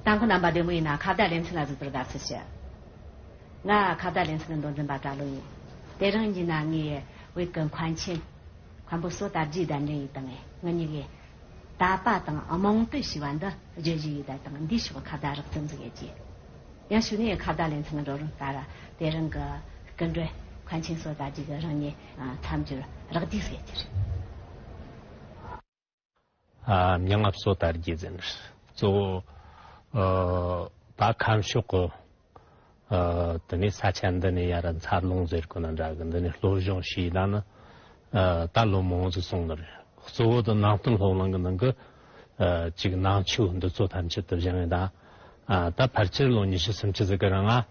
དང་པོ་རྣམ་པ་བདུན་པོ་ཡིན་ན་ཁ་བརྡ་ལེ་ཚན་ལ་གཟིགས་པར་དགའ་བསུ་ཞུ། ང་ཁ་བརྡ་ལེ་ཚན་གྱི་མདོ་འཛིན་པ་གྲྭ་ལོ་ཡིན། དེ་རིང་ཉིད་ན་ངའི་བོད་ཀྱི་མཁོན་ཆེན། མཁན་པོ་བསོད་དར་རྒྱས་ལྡན་འདྲེན་ཡིག་དང་ངའི་གཉིས་ཀའི། ད་པ་དང་རྨོངས་བཏུས་ཞུས་པ་འདི་བརྗོད་གཞི་ཡིད་བརྡལ་དང་འདིའི་ཕྱོགས་ཁ་བརྡ་རགས་ཙམ་གཟིགས་ཡོད་ཀྱི། ཡང་ཞུ་ནས་ཁ་བརྡ་ལེ་ཚན་གྱི་འགྲོ་རུང་ལྟར་དེ་རིང་གི་སྐུ་མགྲོན་མཁོན་ཆེན་བསོད་དར་རྒྱས་ཀྱི་རང་ཉིད་མཚམས་སྦྱོར་རགས་བསྡུས་སུ་ཡོད་ཀྱི་རེད། མྱ་ངན་སོ་ལྟར་རྒྱས་འཛིན་ནས། གཙོ་བོ་བ་ཁམས་ཕྱོགས་ཀུན། དེ་ནས་ས་ཆ་འདི་ནས་ཡར་མཚར་ལུང་ཟེར་དགོས་ན་འདྲ་གི་འདི་ནས་ལྷོ་གཞུང་ཞེས་དང་ནི། རྟ་ལོ་མང་ཟེར་གསུངས་ནི་རེད། གཙོ་བོ་དང་ནང་སྟོད་ལྷོ་གླིང་གི་ནང་གི། གཅིག་ནང་ཆུ་འདི་ཚོ་ཐམས་ཅད་དུ་བཞེངས་ཡོད་ད། ད་ཕར་ཆེར་ལོ་ཉི་ཤུ་སུམ་ཅུ་ཟིག་གི་རིང་ང།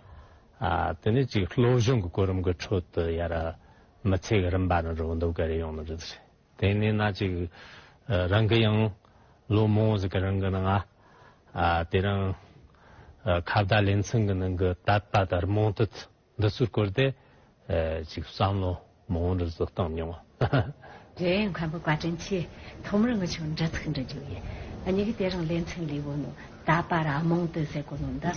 དེ་ནས་གཅིག་ལྷོ་གཞུང་གི་གོ་རིམ་གི་ཁྲོད་དུ་ཡར། མི་ཚེ་གི་རིམ་པ་ནི་རོ་འདུག་གི་རེད་ཡོང་ནི་རེད། དེ་ནས་ན་ཅིག། རང་གི་ཡང། ལོ་མང་བོ་ཟིག་གི་རིང་གི་ནང་ང། དེ་རིང། ཁ་བརྡ་ལེ་ཚན་གི་ནང་གི་དད་པ་དར་མང་དུ་འདི་ཚོར་བཀོལ་ཏེ། ཅིག་བསམ་བློ་མང་བོ་འདི་ཚོ་བཏང་མྱོང། རེད་ཡ་མཁན་པོ་བཀའ་དྲིན་ཆེ། ཐོག་མར་ང་ཆུང་འདྲི་ཚིག་འདྲི་རྒྱུ་ཡིན། གཉིས་ཀ་དེ་རིང་ལེ་ཚན་ལས་བོ་ནུ་དད་པ་ར་མང་དུ་ཟེར་གོ་ནུ་འདི།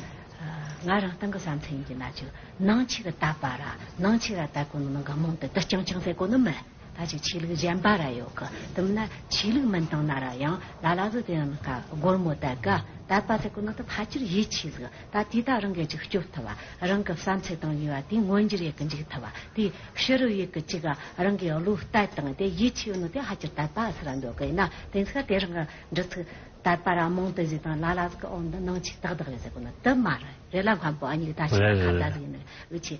ང་རང་སྟང་གི་བསམ་ཚུལ་ཡིན་གྱི་ན་ཅིག་ནང་ཆིག་དད་པ་ར་ནང་ཆིག་ར་དད་གོ་ནུ་ནང་གི་མང་དུ་འདི་ཅང་ཅང་ཟེར་གོ་ནུ་མི། ད་ཅིག་ཆོས་ལུགས་གཞན་པ་ར་ཡོད་གི་དུམ་ན་ཆོས་ལུགས་མིན་དང་ན་ར་ཡང་ལ་ལ་ཟུ་དེ་ཡང་ན་ཀ་སྒོར་མོ་ད་གི་ད་པ་ཚེ་ཀུ་ན་ཏུ་ཕ་ཅིར་ཡིད་ཆེས་ཟིག་ད་དུས་ད་རང་གི་ཅིག་སྐྱོབ་ཐུབ་བ་རང་གི་བསམ་ཚེ་དང་ཡུལ་བ་དུས་མངོན་འགྱུར་ཡི་གི་འཇིག་ཐུབ་བ་དུས་ཕྱི་རུ་ཡི་གི་ཅིག་རང་གི་བློ་ལྟ་དང་དེ་ཡིད་ཆེས་ཡོད་ན་དེ་ཧ་ཅིར་ད་པ་ཟེར་ར་འདོད་གི་ཡིན་ན་དེ་ཚེ་ཀ་དེ་རང་གི་འདྲི་ཚིག་ད་པ་ར་མང་དུ་ཟིག་དང་ལ་ལ་ཟུ་ཀི་འོ་འདི་ནང་ཆོས་དག་དག་རེད་ཟེར་ཀུ་ན་ཏུ་མ་ར་རེད་ལ་སྔ་པོ་ཨ་ཉིག་ད་ཆོས་ཀ་ཁ་བརྡ་ཟིག་ཡིན་ན་འུ་ཆོས་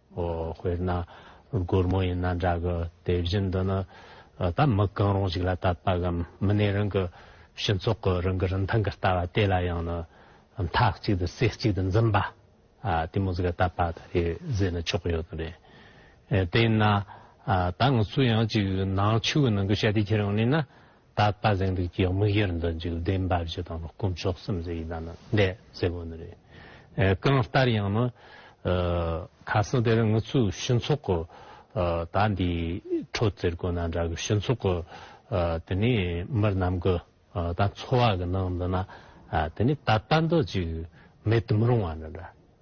དཔེར་ན་སྒོར་མོ་ཡིན་ན་འདྲ་གི་དེ་བཞིན་དུ་ནི་ད་མི་གང་རུང་ཞིག་ལ་ལྟ་བ་གམ་མི་སྣའི་རང་གི་སྤྱི་ཚོགས་ཀྱི་རང་གི་རིན་ཐང་གི་ལྟ་བ་དེ་ལ་ཡང་ནི་མཐའ་གཅིག་ཏུ་སེ་གཅིག་ཏུ་འཛིན་པ་དེ་མོ་ཟིག་ལྟ་བ་དེ་རེད་ཟེར་ནས་ཆོག་གི་ཡོད་དོ་རེད་དེས་ན་ད་ང་ཚོས་ཡང་ཅིག་ནང་ཆོས་ཀྱི་ནང་གི་བཤད་དེ་ཁྱེར་ཡོང་ནས་ན། དག་པ་གཟེངས་རིགས་ཀྱི་དམིགས་ཡུལ་འདི་འཇིག་རྟེན་འབའ་ཞིག་དང་དཀོན་མཆོག་སེམས་ཅན་ཡི་དམ་འདས་ཟེར་བ་ནི་རེད། གང་ལྟར་ཡང་ན་ཁ་སང་དེར་ངུ་ཚོའི་ཞུན་ཚོགས་ཀྱི་ད་འདི་ཁྲོ་ཙེར་དགོ་ན་འདྲ་གི་ཞུན་ཚོགས་ཀྱི་དེ་ནས་མི་རྣམས་ཀྱི་ད་འཚོ་བ་གི་ནང་འདི་ན་དེ་ནས་ད་ལྟ་འདི་ཅིག་མེད་དུ་མི་རུང་བ་འདྲ་འདྲ།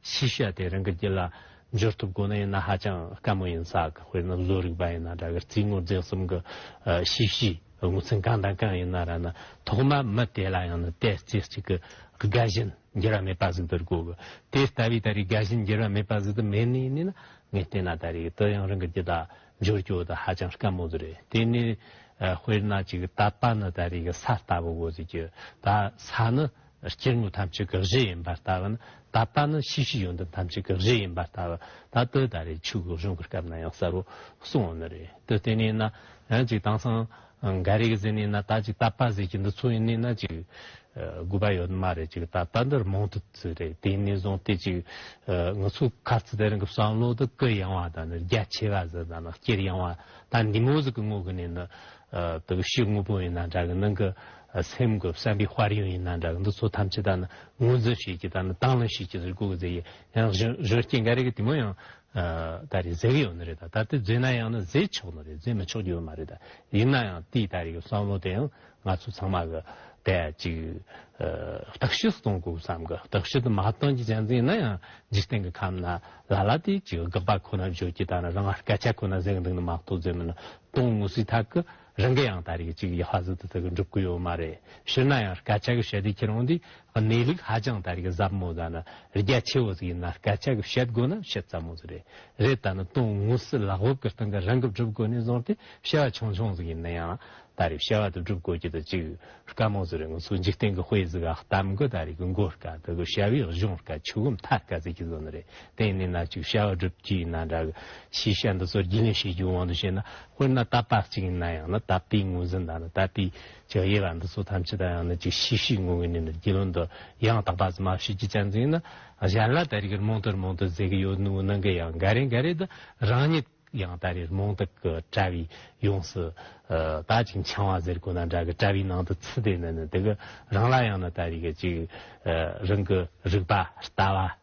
ཤེས་བྱ་དེ་རང་གི་རྒྱུད་ལ་འབྱོར་ཐུབ་དགོས་ན་ཡང་ན་ཧ་ཅང་དཀའ་མོ་ཡིན་ས་གི་དཔེར་ན་བཟོ་རིག་པ་ཡིན་ན་འདྲ་གི་རྩིས་ངོར་རྫས་གསུམ་གི་ཤེས་བྱའི་ངོས་ཚན་གང་དང་གང་ཡིན་ན་ར་ན་ཐོག་མར་མི་དེ་ལ་ཡང་ན་དེ་རྩེ་གཅིག་གི་རྒ་བཞིན་འགྱུར་བ་མེད་པ་ཟིག་འདི་རུ་དགོས་གི་དེ་ལྟ་བུའི་ད་རེས་རྒ་བཞིན་འགྱུར་བ་མེད་པ་ཟིག་འདི་མེད་ནི་ཡིན་ནི་ན་ངས་བལྟས་ན་ད་རེས་དེ་ཡང་རང་གི་རྒྱུད་ལ་འབྱོར་རྒྱུ་དེ་ཧ་ཅང་དཀའ་མོ་ཟིག་རེད་དེ་ནི་དཔེར་ན་གཅིག་ད་པ་ནི་ད་རེས་གི་ས་ལྟ་བུ་དགོས་ཟིག་རྒྱུ་ད་ས་ནི་སྐྱེ་དངོས་ཐམས་ཅད་ཀྱི་གཞི་ཡིན་པར་ལྟ་བ་ནི་ད་ལྟ་ནི་ཤེས་བྱའི་ཡོན་ཏན་ཐམས་ཅད་ཀྱི་གཞི་ཡིན་པར་ལྟ་བ་ད་ལྟའི་ད་རེས་ཆོས་གོས་གཞུང་གི་སྐབས་ན་ཡང་གསལ་བོར་གསུང་བ་ནི་རེད་དེ་དེ་ནས་ན་ཡང་ཅིག་དེང་སང་འགའ་རེ་གིས་ཟེར་ནས་ན་ད་ཅིག་ད་པ་ཟེར་གྱི་འདི་ཚོ་ཡིན་ནས་ན་ཅིག་དགོས་པ་ཡོད་ནི་མ་རེད་ཅིག་ད་ལྟ་འདིར་མང་དུ་བཙུད་རེད་དེ་ནས་བཟུང་སྟེ་ཅིག་ང་ཚོའི་ཁ་རྩི་དེ་རིང་གི་བསམ་བློ་དེ་སྐུ་ཡང་བ་དང་ནི་རྒྱ་ཆེ་བ་ཟེར་དང་ནི་སྐྱེར་ཡང་བ་ད་འདི་མོ་ཟིག་གི་ངོ་གི་ནས་ནི་དག་ཤེས་དངོས་པོ་ཡིན་ན་འདྲ་གི་ནང་གི་སེམས་དགུ་བསམ་པའི་དཔར་ཡང་ཡིན་ན་འདྲ་གི་འདི་ཚོ་ཐམས་ཅད་ད་ནི་ངོས་འཛིན་བྱེད་ཀྱི་ད་ནི་དྭངས་བླངས་བྱེད་ཀྱི་ཟེར་དགོས་ཀྱི་ཟེར་ཡིན་ཡང་གཞོན་སྐྱེས་འགའ་རེ་གི་དེ་མོ་ཡང་ད་རེས་བཟོས་ཀྱི་ཡོད་ནི་རེད་ད་ད་ལྟ་བཟོས་ན་ཡང་ནི་བཟོས་ཆོག་ནི་རེད་བཟོས་མི་ཆོག་ཀྱི་ཡོད་མ་རེད་ད་ཡིན་ན་ཡང་དེའི་ད་རེས་གི་བསམ་བློ་དེ་ཡང་ང་ཚོ་ཚང་མ་གི་ད་ཅིག་བརྟག་དཔྱད་སུ་གཏོང་དགོས་བསམ་གི་བརྟག་དཔྱད་དུ་མ་གཏོང་གྱི་གཅན་ཟིན་ན་ཡང་འཇིག་རྟེན་གི་ཁམས་ན་ལ་ལ་དེ་ཅིག་དགག་པ་ཁོ་ན་བརྗོད་ཀྱི་ད་ནི་རང་སྐད་ཆ་ཁོ་ན་ཟེར་གི་འདུག་ནི་མ་གཏོགས་བཟོས་མིན་གཏོང་ངོ་སི་ཐག་གི། རང་གི་ཡང་ད་རེས་ཀྱི་ཡི་ཧ་ཟི་དེ་དག་འགྲུབ་གི་ཡོད་མ་རེད་ཕྱིར་ན་ཡང་སྐད་ཆ་གི་བཤད་དུས་ཁྱེད་རང་དེ་གནས་ལུགས་ཧ་ཅང་ད་རེས་ཀྱི་ཟབ་མོ་ཟ་ན་རྒྱ་ཆེ་བོ་ཟིག་ཡིན་ན་སྐད་ཆ་གི་བཤད་དགོས་ན་བཤད་ཙམ་མོ་ཟིག་རེད་རེད་ད་ནི་དོན་དངོས་སུ་ལག་འོབ་ཀྱི་སྟེང་གི་རང་གི་སྒྲུབ་དགོས་ནས་བཟུང་སྟེ་བཤད་བ་ཆུང་ཆུང་ཟིག་ཡིན་ན་ཡང་ད་རེས་བཤད་བ་དེ་སྒྲུབ་དགོས་ཀྱི་དེ་གཅིག་དཀའ་མོ་ཟིག་རེད་ང་ཚོའི་འཇིག་རྟེན་གྱི་དཔེ་ཟིག་གཏམ་གྱི་ད་རེས་ཀྱི་མགོ་སྐ་དེ་གི་བཤད་བའི་གཞུང་སྐ་ཆུ་བོ་མཐའ་སྐ་ཟིག་གི་ཟོ་ནི་རེད་དེ་ཡིན་ན་ན་གཅིག་བཤད་བ་སྒྲུབ་ཀྱི་ཡིན་ན་འདྲ་གི་ཕྱིས་བཤད་འདི་ཚོར་རྒྱུས་ལོན་བྱེད་རྒྱུའི་དབང་དུ་བྱས་ན། དཔེར་ན་རྟ་ཕག་ཅིག་ཡིན་ན་ཡང་ན་ད་ལྟའི་ངོས་འཛིན་དང་ནི་ད་ལྟའི་ཇག་དབྱེ་བ་འདི་ཚོ་ཐམས་ཅད་དང་ཡང་ན་ཅིག་ཤེས་ཤེས་ངོ་ངོ་ནས་ནི་རྒྱུས་ལོན་དུ་ཡང་དག་པ་ཙམ་མ་ཤེས་ཀྱི་རྐྱེན་ཙམ་ཡིན་ན་གཞན་ལ་ད་རེས་ཀྱི་རྨོངས་དད་རྨོངས་དད་ཟེར་གྱི་ཡོད་ནུས་ནང་གི་ཡང་འགའ་རེ་འགའ་རེ་དུ་རང་ཉིད་ཡང་ད་རེས་རྨོངས་དད་ཀྱི་དཔྲལ་བའི་ཡོངས་སུ་ད་ཅིག་འཆང་བ་ཟེར་དགོས་ན་འདྲ་གི་དཔྲལ་བའི་ནང་དུ་ཚུད་དེ་ནི་ནི་དེ་གི་རང་ལ་ཡང་ན་ད་རེས་ཀྱི་ཅིག་རང་གི་རིག་པ་ལྟ་བ།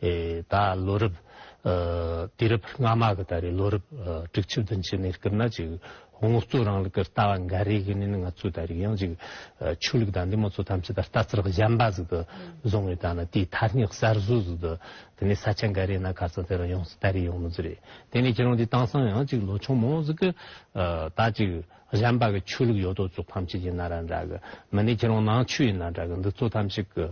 ད་ལོ་རབས་དུས་རབས་སྔ་མ་གི་ད་རེས་ལོ་རབས་དྲུག་ཅུ་བདུན་ཅུ་ནས་བསྐྱར་ན་ཅིག་དངོས་གཙོ་རིང་ལུགས་ཀྱི་ལྟ་བ་འགའ་རེ་གི་ནི་ང་ཚོས་ད་རེས་ཡང་ཅིག་ཆོས་ལུགས་དང་འདི་མོ་ཚོ་ཐམས་ཅད་ད་ལྟ་ཚུར་གཞན་པ་ཟིག་ཏུ་བཟུང་བའི་ད་ནི་དེའི་ཐ་སྙད་གསར་བཟོ་ཟིག་ཏུ་དེ་ནས་ས་ཆ་འགའ་རེ་ན་ག་ཚོད་དེ་རང་ཡོང་སྲིད་ད་རེས་ཡོང་མི་ཚུལ་རེད་དེ་ནས་ཁྱེད་རང་དེ་བཏང་སང་ཡང་ཅིག་ལོ་ཆུང་མོ་ཟིག་གི་ད་ཅིག་གཞན་པ་གི་ཆོས་ལུགས་ཡོད་དོ་ཅོག་ཕམ་ཆེད་ཡིན་ན་རང་འདྲ་གི་མི་ནི་ཁྱེད་རང་ནང་ཆོས་ཡིན་ན་འདྲ་གི་འདི་ཚོ་ཐམས་ཅད་ཀྱི་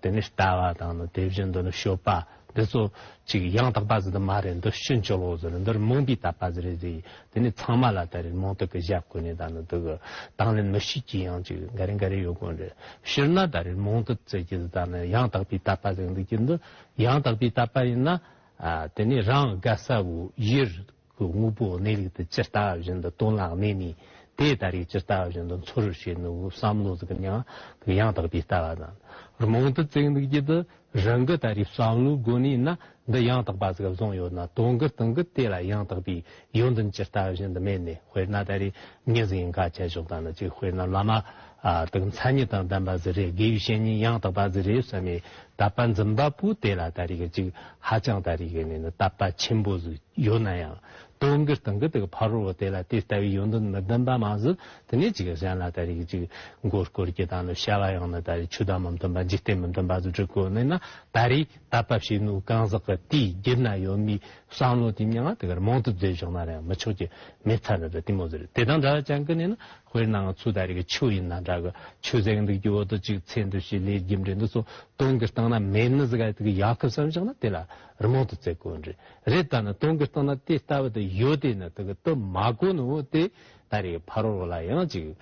དེ་ནས་ལྟ་བ་དང་ནི་དེ་བཞིན་དུ་ནི་ཤོད་པ་འདི་ཚོ་ཅིག་ཡང་དག་པ་ཟི་འདི་མ་རེད་འདི་ཤི་འཇོ་ལོག་ཟི་རེད་འདི་རི་མོང་པའི་དག་པ་ཟི་རེད་ཟེ་དེ་ནི་ཚང་མ་ལ་ལྟ་རེད་མོང་སྟག་གི་ཞབས་གོས་ནི་དང་ནི་འདི་གི་དང་ལེན་མི་ཤེས་ཀྱི་ཡང་ཅིག་འགའ་རེ་འགའ་རེ་ཡོད་དགོས་རེད་ཕྱིར་ན་ད་རེད་མོང་སྟག་བཙལ་གྱི་ཟི་དང་ནི་ཡང་དག་པའི་དག་པ་ཟེ་འདི་ཀྱི་འདི་ཡང་དག་པའི་དག་པ་ཡིན་ན་དེ་ནི་རང་དགའ་ས་བོ་ཡིར་གི་དངོས་པོ་གནས་ལུགས་དེ་ཇི་ལྟ་བ་བཞིན་དུ་སྟོན་ལ་གནས་ནས་དེ་ལྟར་རིགས་ཇི་ལྟ་བ་བཞིན་དུ་འཚོ་རུ་བྱེད་ནུའོ་བསམ་བློ་གཟུགས་ཀྱི་མྱང་གི་ཡང་དག་པའི་ལྟ་བ་དང་རྨོངས་དད་བརྩེགས་འདུག་རྒྱུད་དུ་རང་གི་ལྟ་རིགས་བསམ་བློའི་སྒོ་ནས་ན་འདི་ཡང་དག་པ་གཟུགས་ལ་བཟུང་ཡོད་ན་དོན་གྱི་སྟོན་གྱི་དེ་ལ་ཡང་དག་པའི་ཡོན་ཏན་ཇི་ལྟ་བ་བཞིན་དུ་མེད་ནས་དཔེར་ན་ད་རེས་ངེད་ཟིང་ག་བྱེད་ཞོག་ད་ནི་ཅིག་དཔེར་ན་བླ་མ། དགུ་མཚན་ཉིད་དང་ལྡན་པ་གཟི་རས་དགེའི་བཤེས་གཉེན་ཡང་དག་པ་གཟི་རས་བསོད་མའི་དད་པ་འཛིན་པ་པོ་དེ་ལ་ད་རེས་ཀྱི་ཅིག་ཧ་ཅང་ད་རེས་ཀྱི་ནི་དད་པ་ཆེན་པོ་ཡོད་ན་ཡང་དོན་གྱི་སྟེང་གི་དེ་གི་ཕ་རོལ་བོ་དེ་ལ་དེ་ལྟ་བུའི་ཡོན་ཏན་མི་ལྡན་པ་མ་ཟད་དེ་ནས་ཅིག་གཞན་ལ་ད་རེས་ཀྱི་ཅིག་མགོ་སྐོར་གྱི་དང་ནི་བཤད་པ་ཡང་ནི་ད་རེས་ཆོས་དང་མི་མཐུན་པ་འཇིག་རྟེན་མི་མཐུན་པ་སུ་གྲི་གོ་ནས་ན་ད་རེས་དད་པ་བྱེད་ནུས་གང་ཟག་གི་དེའི་རྒྱུད་ན་ཡོད་མི་བསམ་བློ་དེ་མྱང་ང་དེ་གར་མང་དུ་མཛད་བཞག་ན་རེ་མི་ཆོག་གི་མེད་ཚར་རེ་རེ་དེ་མོ་ཟེར་དེ་དང་འདྲ་བ་ཅན་གྱི་ནི་ན། དཔེར་ན་ང་ཚོའི་ད་རེས་ཀྱི་ཆུ་ཡིན་ན་འདྲ་གི་ཆུ་གཟེངས་འདུག་ཀྱི་འོག་ཏུ་གཅིག་ཚེ་འདུག་ཞེས་ལས་རྒྱུ་འབྲས་འདི་ཚོ་སྟོང་གི་སྟེང་ན་མེད་ན་ཟེར་ག་དེ་གི་ཡག་ཁུ་བསམ་བཞག་ན་དེ་ལ་རི་མོང་དུ་བརྩེ་དགོས་རེད་རེད་ད་ནི་སྟོང་གི་སྟེང་ན་དེ་ལྟ་བུ་དུ་ཡོད་དེ་ནི་དེ་གི་དུ་མ་གོ་ནི་འོ་དེ་ད་རེས་ཀྱི་ཕ་རོལ་ལ་ཡང་ཅིག་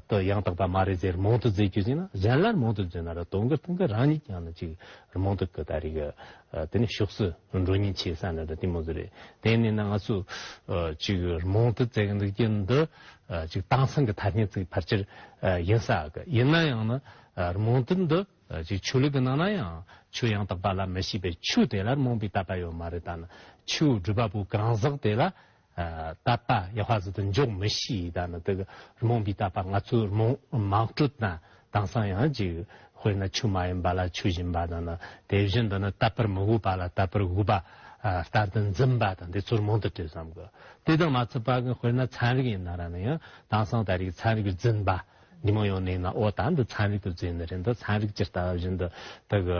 དུ་ཡང་དག་པ་མ་རེད་ཟེར་རི་མོང་དུ་བརྩེ་དགོས་ཅིག་ན་གཞན་ལ་རི་མོང་དུ་བརྩེ་ན་ར་སྟོང་གི་སྟེང་གི་རང་ཉིད་ཀྱང་ནི་ཅིག་རི་མོང་དུ་གི་ད་རེས་ཀྱི་དེ་ནི་ཞོགས་སུ་འགྲོ་ཉེན་ཆེ་ས་ནི་འདྲ་དེ་མོ་ཟེར་རེད་དེ་ནི་ན་ང་ཚོས་ཅིག་རི་མོང་དུ་བརྩེ་གི་འདུག་ཀྱི་འདི། ཅིག་དྭངས་གཙང་གི་ཐ་སྙད་ཚིག་ཕར་ཆེར་ཡིན་ས་གི་ཡིན་ན་ཡང་ནི་རྨོངས་དད་འདི་ཅིག་ཆོས་ལུགས་ཀྱི་ནང་ན་ཡང་ཆོས་ཡང་དག་པ་ལ་མི་ཤེས་པའི་ཆོས་དེ་ལ་རྨོངས་པའི་དད་པ་ཡོད་མ་རེད་ད་ནི་ཆོས་སྒྲུབ་པ་པོ་གང་ཟག་དེ་ལ་དད་པ་ཡེ་བྷ་ཟི་དུ་འཇོག་མི་ཤེས་ད་ནི་དེ་གི་རྨོངས་པའི་དད་པ་ང་ཚོའི་རྨོངས་མང་སྤྲོད་ན་དེང་སང་ཡང་ཅིག། དཔེར་ན་ཆུ་མ་ཡིན་པ་ལ་ཆུ་བཞིན་པ་དང། དེ་བཞིན་དུ་ནི་བརྟག་པར་མི་དབུལ་བ་ལ་བརྟག་པར་དབུལ་བ། ལྟར་དུ་འཛིན་པ་དང་དེ་ཚུར་མང་དུ་སྤྲོས་སམ། དེ་དང་མ་ཚུད་པ་ཀུན་དཔེར་ན་ཚན་རིག་ཡིན་ན་ར་ནི་ཡང། དེང་སང་ད་རེས་ཚན་རིག་པའི་འཛིན་པ། ཉིན་མོ་ཡོང་ནས་ཡིན་ན་ཨོ་ད་འདི་ཚན་རིག་ཏུ་འཛིན་ནི་རེད་འདི་ཚན་རིག་ཅི་ལྟ་བ་བཞིན་དུ། དག།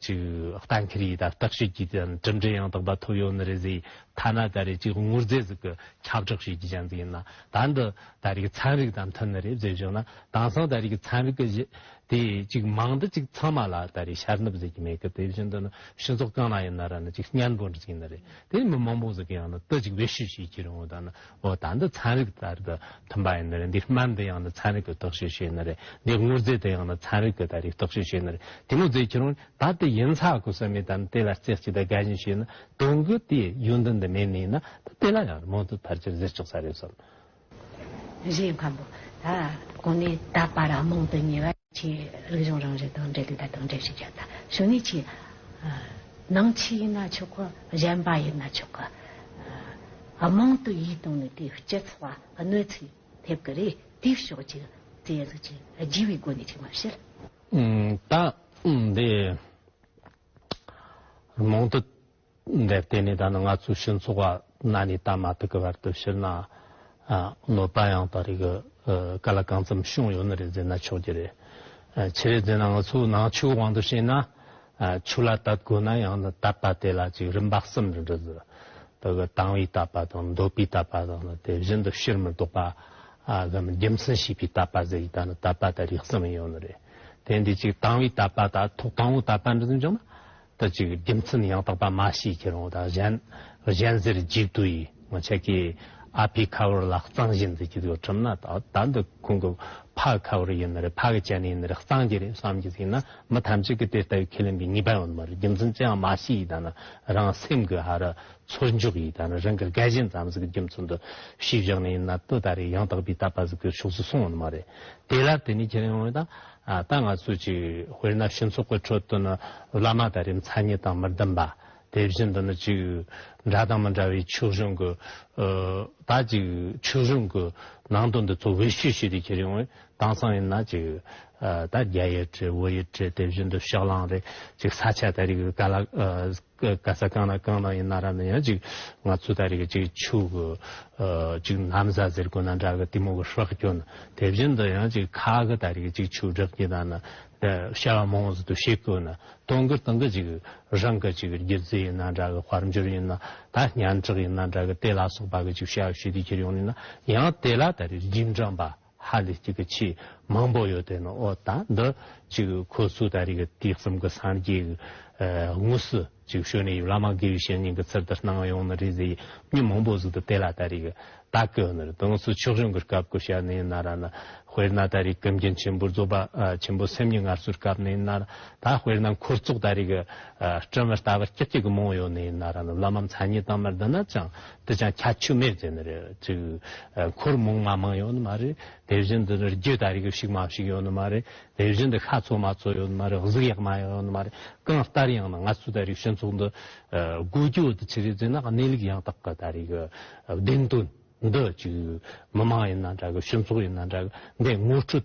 ཅིག། གཏན་འཁེལ་ཡིད་དང་བརྟག་དཔྱོད་ཀྱིས་དེ་ཡང་གྲུབ་འབྲས་ཡང་དག་པ་ཐོབ་ཡོང་ནི་རེད་ཟེར། ཐ་ན་ད་རེས་ཅིག་དངུལ་རྫས་ཟིག་གི་ཁྱབ་བསྒྲགས་བྱེད་རྒྱུ་ཅན་ཟིག་ཡིན་ན། ད་འདི། ད་རེས་ཀྱི་ཚན་རིག་དང་མཐུན་ན་རེད་བཟོས་བྱུང་ན་དེང་སང་ད་རེས་ཀྱི་ཚན་རིག་གི་དེ་ཅིག་མང་དུ་ཅིག་ཚང་མ་ལ་ད་རེས་ཤར་ནུབ་ཟེར་གྱི་མེད་གི་དེ་བཞིན་དུ་ནི་སྤྱི་ཚོགས་གང་ན་ཡིན་ན་ར་ནི་ཅིག་སྙན་པོ་འདྲི་གི་ཡིན་ན་རེད་དེ་མི་མང་པོ་ཟེར་གི་ཡང་ན་དུ་ཅིག་བེད་སྤྱོད་བྱེད་ཀྱི་རུང་བ་ད་ནི་འོ་ད་འདི་ཚན་རིག་ད་རེས་ཀྱི་མཐུན་པ་ཡིན་ན་རེད་འདི་སྨན་འདི་ཡང་ན་ཚན་རིག་གི་རྟོག་དཔྱོད་བྱེད་ན་རེད་འདི་དངོས་རྫས་འདི་ཡང་ན་ཚན་རིག་གི་ད་རེས་རྟོག་དཔྱོད་བྱེད་ན་རེད་དེ་མོ་ཟེར་གྱི་རུང་ད་དེ་ཡིན་ཚ་གོ་ས་མེད་ད་ནི་དེ་ལ་རྩེ་གཅིག་ད་དགའ་བཞིན་བྱས་ན་དོན་གྱི་དེ་ཡུན་དུ་འདི་མེད་ནས་ཡིན་ན་ད་དེ་ལ་ཡང་རེད་མོ་འདི་ཕར་ཆེར་ཟེར་ཆོག་ས་རེད་བསམ། རེད་སྙམ། ད་གོང་ནས་ད་བར་མང་དུ་ཉེ་བ། ཆེས་རིག་གཞུང་རང་རེ་དང་འབྲེལ་དུ་ད་དུང་འབྲེལ་ཞིག་བྱ་ཐ་ཞུ་ནས་ཆེས། ནང་ཆོས་ཡིན་ན་ཆོག་གོ་གཞན་པ་ཡིན་ན་ཆོག་གོ། མང་དུ་ཡིད་གཏོང་ནས་དེའི་སྤྱི་ཚོགས་ལ་གནོད་འཚེ་ཐེབས་ཀྱི་རེད་དེའི་ཕྱོགས་ཀྱི་རྩལ་གཟིགས་ཀྱི་བགྱི་བའི་སྒོ་ནས་ཅིག་མ་བཤད། ད་འདི། མང་དུ། འདས་དེ་ནས་ད་ནི་ང་ཚོའི་ཕྱི་ཚོགས་པ་གནའ་ནས་ད་མ་ཐུག་གི་བར་དུ་ཕྱིར་ན་གནོད་པ་ཡང་དག་རིགས་ག་ལ་གང་ཙམ་བྱུང་ཡོད་ནི་རེ་འཛིན་ན་ཆོག་གི་རེད། ཆེ་རེ་འཛིན་ན་ང་ཚོའི་ནང་ཆོས་དབང་དུ་བྱས་ན་ཆོས་ལ་དད་དགོས་ན་ཡང་ནི་དད་པ་དེ་ལ་ཅིག་རིམ་པ་གསུམ་རེ་འདྲི་ཟེར། དག་གི་དང་བའི་དད་པ་དང་འདོད་པའི་དད་པ་དང་ནི་དེ་བཞིན་དུ་ཕྱིར་མི་ལྡོག་པ་གམ་རྒྱུ་མཚན་ཤེས་པའི་དད་པ་ཟེར་གྱི་ད་ནི་དད་པ་དེ་རིགས་གསུམ་ཡོད་ནི་རེད། དེ་འདི་ཅིག་དང་བའི་དད་པ་དང་ཐོག་དང་བོའི་དད་པ་འདྲི་ཟིན་བྱུང་ན་ད་ཅིག་རྒྱུ་མཚན་ཡང་དག་པ་མ་ཤེས་ཀྱི་རང་དང་གཞན། གཞན་ཟེར་འཇིག་དུས་ཡིན་ངོ་ཆད་ཀྱི། ཨ་ཕའི་ཁ་བོར་ལ་གཙང་བཞེས་མཛད་ཀྱི་འདུག་ཁྲིམས་ན་ད་འདི་ཁོང་གི་ཕ་ཁ་བོར་ཡིན་ནི་རེད་ཕ་གི་སྤྱན་ནས་ཡིན་ནི་རེད་གཙང་གྱི་རེད་བསམ་གྱི་ཟིན་ན་མི་ཐམས་ཅད་ཀྱི་དེ་ལྟ་བུའི་ཁས་ལེན་པའི་ངེས་པ་ཡོད་མི་རེད་རྒྱུ་མཚན་ཅི་ཡང་མ་ཤེས་ཡི་ད་ནི་རང་སེམས་ཀྱི་ཧ་རུ་ཚུར་འཇོག་གི་ཡི་ད་ནི་རང་གི་རྒ་གཞན་ཙམ་ཟིག་གི་རྒྱུ་མཚན་དུ་ཤེས་བཞག་ནི་ཡིན་ན་དུས་ད་རེས་ཡང་དག་པའི་ལྟ་བ་ཟིག་གི་ཕྱོགས་སུ་སོང་ཡོད་མི་རེད་དེ་ལ་དེ་ནས་ཁས་ལེན་ཡོང་ཡོད་ད། ད་ང་ཚོས་ཅིག་དཔེར་ན་ཕྱི་ཚོགས་ཀྱི་ཁྲོད་དུ་ནི་བླ་མ་དང་རིམ་མཚར་ཉིད་དང་མི་ལྡན་པ། དེ་བཞིན་དུ་ནི་ཅིག་འདྲ་དང་མི་འདྲ་བའི་ཕྱུགས་ཞོན་གྱི། ད་ཅིག་ཕྱུགས་ཞོན་གྱི་ནང་དུ་འདི་ཚོ་བེད་སྤྱོད་བྱེད་དུ་ཁྱེར་ཡོང་བས་དྭངས་གཙང་ཡིན་ན་ཅིག། ད་རྒྱ་ཡི་བྲེ་བོ་ཡི་བྲེ་དེ་བཞིན་དུ་ཕྱག་གླང་རེ་ཅིག་ས་ཆ་དེ་རིགས་ག་ལ། ག་ས་གང་ན་གང་ན་ཡིན་ན་ར་ན་ཡང་ཅིག་ང་ཚོ་ད་རེས་ཀྱི་ཕྱུག་གི་ཅིག་ནམ་བཟའ་ཟེར་དགོས་ན་འདྲ་གི་དེ་མོ་གི་ཧྲག་གྱོན་དེ་བཞིན་དུ་ཡང་ཅིག་ཁ་གི་ད་རེས་ཀྱི་ཕྱུག་བྲག་གི་ད་ན་ཤ་བ་མོང་ཟི་དུ་ཤེས་དགོས་ན་སྟོང་གི་སྟོང་གི་ཅིག་རང་གི་ཅིག་རྒྱུད་རྫི་ཡིན་ན་འདྲ་གི་དཔར་འབྱོར་ཡིན་ན་ད་སྙན་གྲགས་ཡིན་ན་འདྲ་གི་དེ་ལ་སོགས་པ་གི་ཅིག་ཤ་བ་ཤུ་དེ་ཁྱེར་ཡོང་ནས་ན་ཡང་དེ་ལ་ད་རེས་རྒྱུད་འབྲངས་པ། ཧ་ལས་གཅིག་གི་ཆེས་མང་པོ་ཡོད་དེ་ནི་ཨོ་ད་འདི་གཅིག་ཁོ་ཚོས་ད་རེས་ཀྱི་དུས་གསུམ་གྱི་སངས་རྒྱས་ཀྱི་དངོས་སུ་ཅིག་ཤོས་ནས་ཡིབ་བླ་མ་དགེ་བའི་བཤེས་གཉེན་གྱི་ཚུལ་དུ་སྣང་ཡོང་ནི་རེད་ཟེར་མྱི་མང་པོ་གཟིགས་འདུག་དེ་ལ་ད་རེས་ཀྱི་ད་ཀི་ནི་རེད་དང་སུ་ཕྱོགས་རིང་གི་སྐབས་ཀྱི་ཞལ་ནས་ན་ར་ན་དཔེར་ན་ད་རེས་ཀྱི་མཁན་ཆེན་པོ་རྫོགས་པ་ཆེན་པོ་སེམས་ཉིད་སྔར་སྲོལ་སྐབས་ནས་ན་ར་ད་དཔེར་ན་འཁོར་ཚོགས་ད་རེས་ཀྱི་སྤྲིན་མི་ལྟ་བར་སྐྱིད་སྐྱིད་ཀྱི་མང་ཡོད་ནས་ན་ར་ན་བླ་མ་མཚན་ཉིད་དང་མི་ལྡན་ན་ཅང་འདི་ཅང་ཁྱད་ཆོས་མེད་ཅེས་ནི་རེད། འཁོར་མོང་མ་མང་ཡོད་ནི་མ་རེད། དེ་བཞིན་དུ་ནི་རྒྱུད་དང་རིགས་དབྱིབས་ཞིག་མ་ཞིག་ཡོད་ནི་མ་རེད། དེ་བཞིན་དུ་ཤ་ཚོགས་མ་ཚོགས་ཡོད་ནི་མ་རེད་གཟུགས་ཡག་མ་ཡག་ཡོད་ནི་མ་རེད། གང་ལྟར་ཡང་ནི་ང་ཚོའི་ད་རེའི་ཞོན་ཚོགས་འདི་དགུ་རྒྱུད་དུ་ཆི་རེ་ཟིན་ན་གནས་ལུགས་ཡང་དག་གི་ད་རེའི་གི་བདེན་དོན་འདི་ཅིག་མི་མང་ཡིན་ན་འདྲ་གི་ཞོན་ཚོགས་ཡིན་ན་འདྲ་གི་འདི་ངོ་སྤྲོད་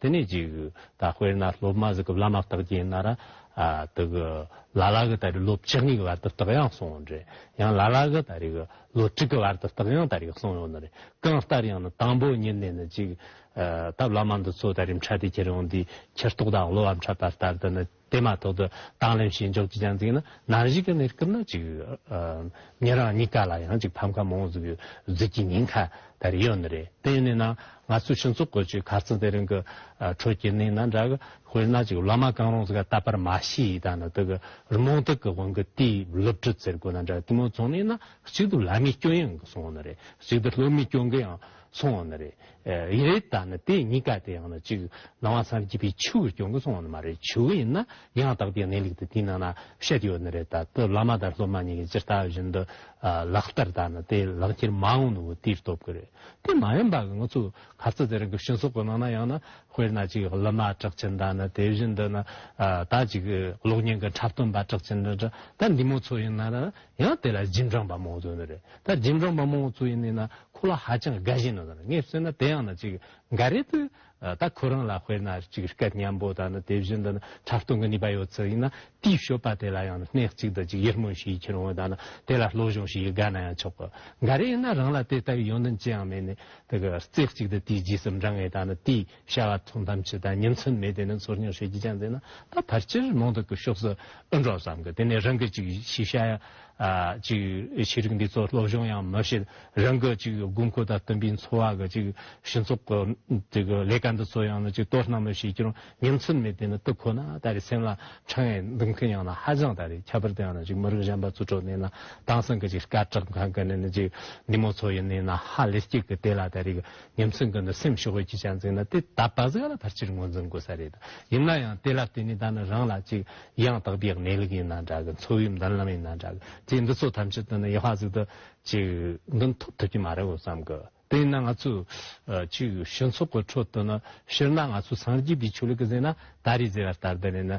དེ་ནས་ཅིག། ད་དཔེར་ན་སློབ་མ་ཟིག་གི་བླ་མ་བརྟག་རྒྱས་གནང་ར། དེ་གི། ལ་ལ་གི་ད་རེས་སློབ་ཆིག་གཉིས་ཀྱི་བར་དུ་བརྟག་ཡང་སོང་ཡོང་རེད། ཡང་ལ་ལ་གི་ད་རེས་གི་ལོ་དྲུག་གི་བར་དུ་བརྟག་ཡང་ད་རེས་སོང་ཡོང་ནི་རེད། གང་ལྟར་ཡང་ན་དང་པོ་ཉིན་ནས་ནི་ཅིག། ད་བླ་མ་འདི་ཚོ་ད་རེས་འཕྲད་དེ་ཁྱེར་ཡོང་དུས་ཁྱེར་ཏོག་དང་གློ་བ་འཕྲད་པ་ལྟར་དུ་ནི། དེ་མ་ཐོག་ཏུ་དྭངས་ལེན་བྱེད་འཇོག་ཅི་ཅང་འཛིན་ན་ནང་གཞིས་ཀ་ནས་སྐུབས་ན་ཅིག་ཉེ་རང་གཉིས་ཀ་ལ་ཡང་ཅིག་ཕམ་ཁ་མང་བཟོ་བཟོས་ཀྱི་ཉེན་ཁ་ད་རེ་ཡོད་ནི་རེད་དེ་ཡིན་ན་ན་ང་ཚོས་ཕྱི་ཚོགས་བཀོད་ཅིག་ག་ཚོད་དེ་རིང་གི་ཁྲོད་ཀྱི་གནས་ན་འདྲ་གི་དཔེར་ན་ཅིག་སློབ་མ་གང་རུང་ཟིག་ག་ད་པར་མ་ཤི་ཡིས་ད་ནི་དི་གི་རི་མོང་དག་གི་དབང་གི་དེའི་སློབ་ཁྲིད་ཟེར་དགོས་ན་འདྲ་དེ་མོ་ཚོང་གནས་ན་གཅིག་ཏུ་ལ་མི་སྐྱོ་ཡང་གི་སོང་ནི་རེད་གཅིག་ཏུ་སློབ་མི་སྐྱོ་གི་ཡང་སོང་ནི་རེད། ཡི་རེ་ད་ནི་དེ་གཉིས་ཀ་དེ་ཡང་ན་གཅིག་སྣང་བ་སངས་རྒྱས་པའི་ཆོས་ཀྱི་སྐྱོན་གྱི་ཚོགས་ནི་མ་རེད་ཆོས་ཡིན་ན་ཡང་དག་པའི་གནས་ལུགས་དེ་དེའི་ནང་ན་བཤད་ཡོད་ནི་རེད་ད་དེ་བླ་མ་དང་སློབ་མ་གཉིས་ཀྱི་ཅི་ལྟ་བ་བཞིན་དུ་ལག་བསྟར་ད་ནི་དེ་ལག་འཁྱེར་མ་འོངས་ནུ་བོ་དེའི་སྟོབས་ཀྱི་རེད་དེ་མ་ཡིན་པ་གི་ང་ཚོ་ག་ཚོད་དེ་རིང་གི་ཤིང་སོགས་ཀྱི་ནང་ན་ཡང་ན་དཔེར་ན་གཅིག་སློབ་མ་གྲགས་ཅན་ད་ནི་དེ་བཞིན་དུ་ན་ད་གཅིག་གློག་བརྙན་གྱི་འཁྲབ་སྟོན་པ་གྲགས་ཅན་ད་འདི་མོ་ཚོ་ཡིན་ན་ན་ཡང་དེ་ལ་རྗེས་འབྲངས་པ་མང་བོ་ཚུད་ནི་རེད་ད་རྗེས་འབྲངས་པ་མང་བོ་ཚུད་ཡིན་ནི་ན་ཁོ་ལ་ཧ་ཅང་དགའ་བཞིན་ནི་ད་ངས་བསོད་ན་དེ་ཡང་ན་ཅིག་འགའ་རེ་དུ་ད་ཁོ་རང་ལ་དཔེར་ན་ཅིག་སྐད་སྙན་པོ་དང་ནི་དེ་བཞིན་དུ་ནི་འཁྲབ་སྟོན་གི་ནུས་པ་ཡོད་ཚུལ་ཡིན་ན་དེའི་ཤོད་པ་དེ་ལ་ཡང་ནི་སྣེ་གཅིག་དང་ཅིག་ཡིད་སྨོན་ཞིག་ཡིད་ཁྱེར་འོས་དང་ནི་དེ་ལ་བློ་གཞུང་ཞིག་ཡིད་དགའ་ན་ཡང་ཆོག་གོ་འགའ་རེ་ཡིན་ན་རང་ལ་དེ་ལྟ་བུའི་ཡོན་ཏན་ཅི་ཡང་མེད་ནི་ད་གི་རྩེ་གཅིག་དུ་དེའི་རྗེས་སུ་འབྲངས་ངེས་དང་ནི་དེའི། བྱ་བ་ཐུགས་དམ་ཇི་ལྟར་ཉིན་མཚན་མེད་དེ་ནས་འཚོར་སྙིང་ཧྲལ་གྱིས་བཅངས་མཛད་ན་ད་བར་སྤྱིར་མང་དུ་ཀྱི་ཤོག་སེ་ཨུ་འབྲོག་ཙམ་གྱི་དེ་ནས་རང་གི་ཅིག་ཤེས་བྱ་ཡ་ཅིག་ཤེས་རིག་འདི་ཚོ་སློབ་སྦྱོང་ཡང་མ་བྱེད་རང་གི་ཅིག་དགོས་མཁོ་དང་བསྟུན་པའི་འཚོ་བ་གི་ཅིག་ཞིང་ཚོགས་ཀྱི་ཅིག་ལས་ཀ་འདི་ཚོ་ཡང་ན་ཅིག་ལྟོ་སྣང་མི་བྱེད་ཀྱང་ཉིན་མཚན་མེད་དེ་ནས་ཏུ་ཁོ་ན་ད་རེས་སེམས་ལ་འཕྲང་ཡང་འདུག་མཁན་ཡང་ན་ཧ་ཅང་ད་རེས་ཁྱད་པར་དུ་ཡང་ན་ཅིག་མི་རིགས་གཞན་པ་ཚོ་གྲོགས་གནས་ན་དྭངས་སང་གི་ཅིག་སྐད་གྲགས་མཁན་གི་ནས་ན་ཅིག་ནི་མོ་ཚོ་ཡིན་ནས་ན་ཧ་ལས་སྐྱིད་ཀྱི་དེ་ལ་ད་རེས་ཉམས་སུ་འགུལ་ན་སེམས་ཞི་བ་གྱིས་ཀྱང་འཛིན་ན་དེ་ད་བར་གཟའ་ལ་ཕར་ཆེར་ངོས་འཛིན་དགོས་ས་རེད། ཡིན་ན་ཡང་དེ་ལ་བརྟེན་ནས་ད་ནི་རང་ལ་ཅིག་ཡང་དག་པའི་གནས་ལུགས་ཡིན་ན་འདྲ་གི་འཚོ་བའི་མདུན་ལམ་ཡིན་ན་འདྲ་གི་ཅིག་འདི་ཚོ་ཐམས་ཅད་དུ་ནི་ཡེ་ཤུ་ཟིག་ཏུ་ཅིག་མདུན་ཐུག་ཐུབ་ཀྱི་མ་རེད་བསམ་གི། དེ་ཡིན་ན་ང་ཚོས་ཅིག་ཞི་འཚོགས་ཀྱི་ཁྲོད་དུ་ནི་སྤྱིར་ན་ང་ཚོས་སངས་རྒྱས་པའི་ཆོས་ལུགས་ཀྱི་ཟེར་ན་ད་རེས་ཟེར་བ་ལྟར་འདི་ནས་ནི་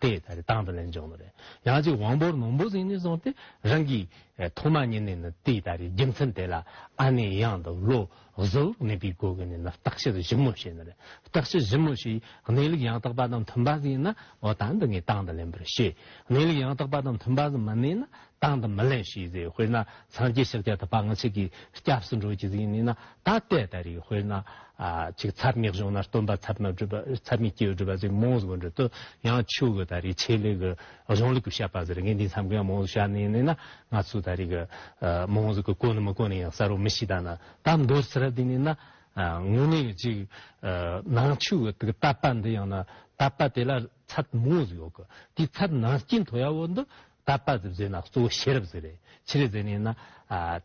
དེ་ད་རེས་དང་དུ་ལེན་བྱུང་ནོ་རེ། ཡང་གཅིག་དབང་པོར་ནོངས་པོ་ཟིན་ནས་བཟུང་སྟེ་རང་གི། ཐོག་མ་ཉིད་ནས་ནི་དེ་ད་རེས་རྒྱུ་མཚན་དེ་ལ་ཨ་ནེ་ཡང་དུ་བློ་གཟུ་བོར་གནས་པའི་སྒོ་ཀུན་ནས་ནི་རྟག་ཕྱིར་གཞི་མོ་ཞེས་ནི་རེ། རྟག་ཕྱིར་གཞི་མོ་ཞེས་གནས་ལུགས་ཡང་དག་པ་དང་མཐུན་པ་ཟིན་ན་འོ་ད་འདི་ངས་དང་དུ་ལེན་པར་བྱེད། གནས་ལུགས་ཡང་དག་པ་དང་མཐུན་པ་ཟིན་མ་ནས་ན་བཏང་དང་མི་ལེན་ཞིག་ཟེར་དཔེར་ན་སངས་རྒྱས་ཕྱག་རྒྱ་དང་བ་ང་ཅིག་གིས་སྐྱབས་སུ་འགྲོ་རྒྱུ་ཡིན་ནི་ན་ད་ལྟའི་ད་རིག་དཔེར་ན། ཅིག་ཚབ་ངེག་བྱུང་ན་སྟོན་པ་ཚབ་མ་བསྒྲུབ་པ་ཚབ་མི་སྐྱེ་བའི་བསྒྲུབ་པ་ཟེར་མོང་གཟུགས་འགྲོ་དུ་ཡང་ཆོས་གོས་ད་རིག་ཆེད་ལས་གི་གཞུང་ལུགས་ཀྱི་བཤད་པ་ཟེར་ངས་འདི་མཚམས་ཀྱང་མོང་གཟུགས་བཤད་ནི་ན་ང་ཚོས་ད་རིག་མོང་གཟུགས་ཀྱི་གོ་ནི་མི་གོ་ནི་ཡང་གསལ་བོ་མི་ཤེས་ད་ན་ད་མདོར་ཚིག་ར་འདི་ནི་ན། དངོས་གནས་ཅིག་ནང་ཆོས་གོས་དེ་གི་བཏབ་པ་འདི་ཡང་ན་བཏབ་པ་དེ་ལ་ཚབ་མོང་གཟུགས་ཡོད་གི་དེའི་ཚབ་ནང་རྐྱེན་དོ་ཡ་བོ་འདི་ད་པ་ཟིབ་ཟེར་ན་གཙོ་བོ་ཤེས་རབ་ཟེར་རེད་ཕྱི་རེ་ཟེར་ནས་ན།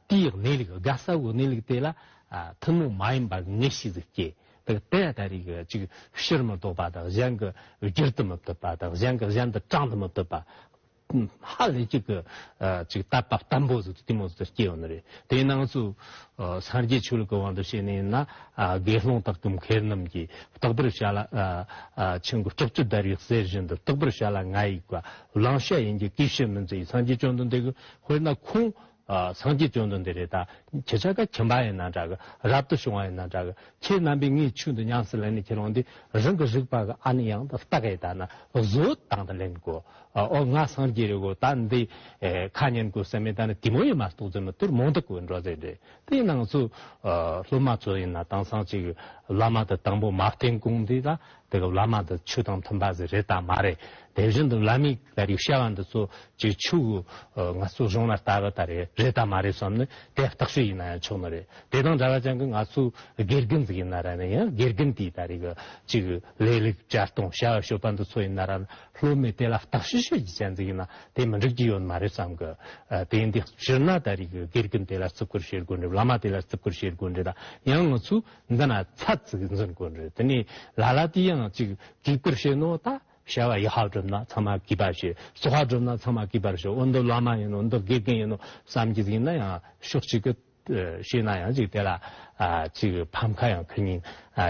དེའི་གནས་ལུགས་དགའ་ས་བོའི་གནས་ལུགས་དེ་ལ། ཐུན་མོང་མ་ཡིན་པར་ངེས་ཤེས་ཟིག་སྐྱེས། དེ་ལྟ་རེ་གི་གཅིག་ཕྱིར་མི་ལྡོག་པ་དང་གཞན་གི་རྒྱུར་དུ་མི་བལྟོས་པ་དང་གཞན་གི་གཞན་དུ་དྲང་དུ་མི་བལྟོས་པ། ཧ་ལས་གཅིག་གི་གཅིག་ད་པ་བརྟན་པོ་ཟིག་དེ་མོ་ཟིག་སྐྱེས་ཡོང་ནི་རེད་དེའི་ནང་ཚུ། སངས་རྒྱས་ཆོས་ལུགས་ཀྱི་དབང་དུ་བྱས་ནས་ན། དགེ་སློང་དག་གི་མཁས་རྣམས་ཀྱིས་རྟག་པར་བྱ་ལ། ཆེན་པོ་ལྕགས་ཀྱུ་བརྡར་བའི་གསེར་བཞིན་དུ་རྟག་པར་བྱ་ལ་ང་ཡིག་པ་བླང་བྱ་ཡིན་གྱི་ཀི་ཤི་མིན་ཙི་ཡིས་སངས་རྒྱས་བཅོམ་ལྡན་འདས་ཀྱི་དཔེར་ན་ཁོང་སངས་རྒྱས་བཅོམ་ལྡན་འདས་རེད་ད་ཁྱེད་ཅག་ག་ཁྱིམ་པ་ཡིན་ན་འདྲ་གི་རབ་ཏུ་བྱུང་བ་ཡིན་ན་འདྲ་གི་ཁྱེད་རྣམ་པས་ངའི་ཆོས་འདི་ཉམས་སུ་ལེན་ནས་ཁྱེད་རང་འདི་རང་གི་རིགས་པ་གི་ཨ་ནི་ཡང་ཏི་སྟག་ཡིན་ད་ན་བཟོ་དང་ད་ལེན་གོ་ཨོ་ང་སངས་རྒྱས་རེད་གོ་ད་འདི་ཁ་ཉན་གོ་ཟེར་མི་ད་ནི་དེ་མོ་ཡིན་མ་གཏོགས་རྫུན་མི་དུར་མང་དུ་གོ་འགྲོ་ཟེར་རེད་དེ་ནང་ཚོས་སློབ་མ་ཚོ་ཡིན་ན་དེང་སང་ཅིག་བླ་མ་དང་དང་པོ་མ་བསྟེན་གོང་འདི་ལ། དེ་སྐབས་བླ་མ་འདི་ཆུ་དང་མཐུན་པ་ཟེར་རེད་དམ་མ་རེད་དེ་བཞིན་དུ་བླ་མའི་ལས་རིགས་བཤད་པ་འདི་ཚོ་བཅས་ཆུ་གི་ངལ་གསོ་གཞུང་ལ་ལྟ་བ་ད་རེད་རེད་དམ་མ་རེད་བསམ་ནས་དེ་བརྟག་ཞིག་ཡིན་ན་ཡང་ཆོག་ནི་རེད་དེ་དང་འདྲ་བ་ཅན་གྱི་ང་ཚོའི་དགེ་རྒན་ཟིག་ཡིན་ན་ར་ནི་ཡང་དགེ་རྒན་དེས་ད་རེས་ཀྱི་ཅིག་ལས་ལེགས་སྦྱར་གཏོང་བྱ་བ་ཤོད་པ་འདི་ཚོ་ཡིན་ན་ར་ནི་སློབ་མས་དེ་ལ་བརྟག་ཞིག་ཤོད་རྒྱུ་ཅན་ཟིག་ཡིན་ན་དེ་མི་འགྲིག་གི་ཡོད་ནི་མ་རེད་བསམ་གི་དེ་འདི་ཕྱིར་ན་ད་རེས་ཀྱི་དགེ་རྒན་དེ་ལ་བརྩི་བཀུར་བྱེད་དགོས་འདྲི་བླ་མ་དེ་ལ་བརྩི་བཀུར་བྱེད་དགོས་འདྲི་ད་ཡང་ང་ཚོས། འདི་ན་ཚ་ཙིག་འཛིན་དགོས་ནི་རེད་དེ་ནས་ལ་ལ་དེ་ཡང་ཅིག་གིས་པིར་བྱེད་ནོ་ད་བྱ་བ་ཡི་ཧ་བསྒྲུབ་ན་ཚང་མ་གིས་པར་བྱེད་སོ་ཧ་བསྒྲུབ་ན་ཚང་མ་གིས་པར་བྱེད་འོ་འདི་བླ་མ་ཡིན་ནོ་འདི་དགེ་རྒན་ཡིན་ནོ་བསམ་གྱི་ཡིན་ན་ཡང་ཤོག་ཅིག་གི་བྱས་ན་ཡང་ཅིག་དེ་ལ་ཅིག་ཕམ་ཁ་ཡང་ཁུ་ཉིན་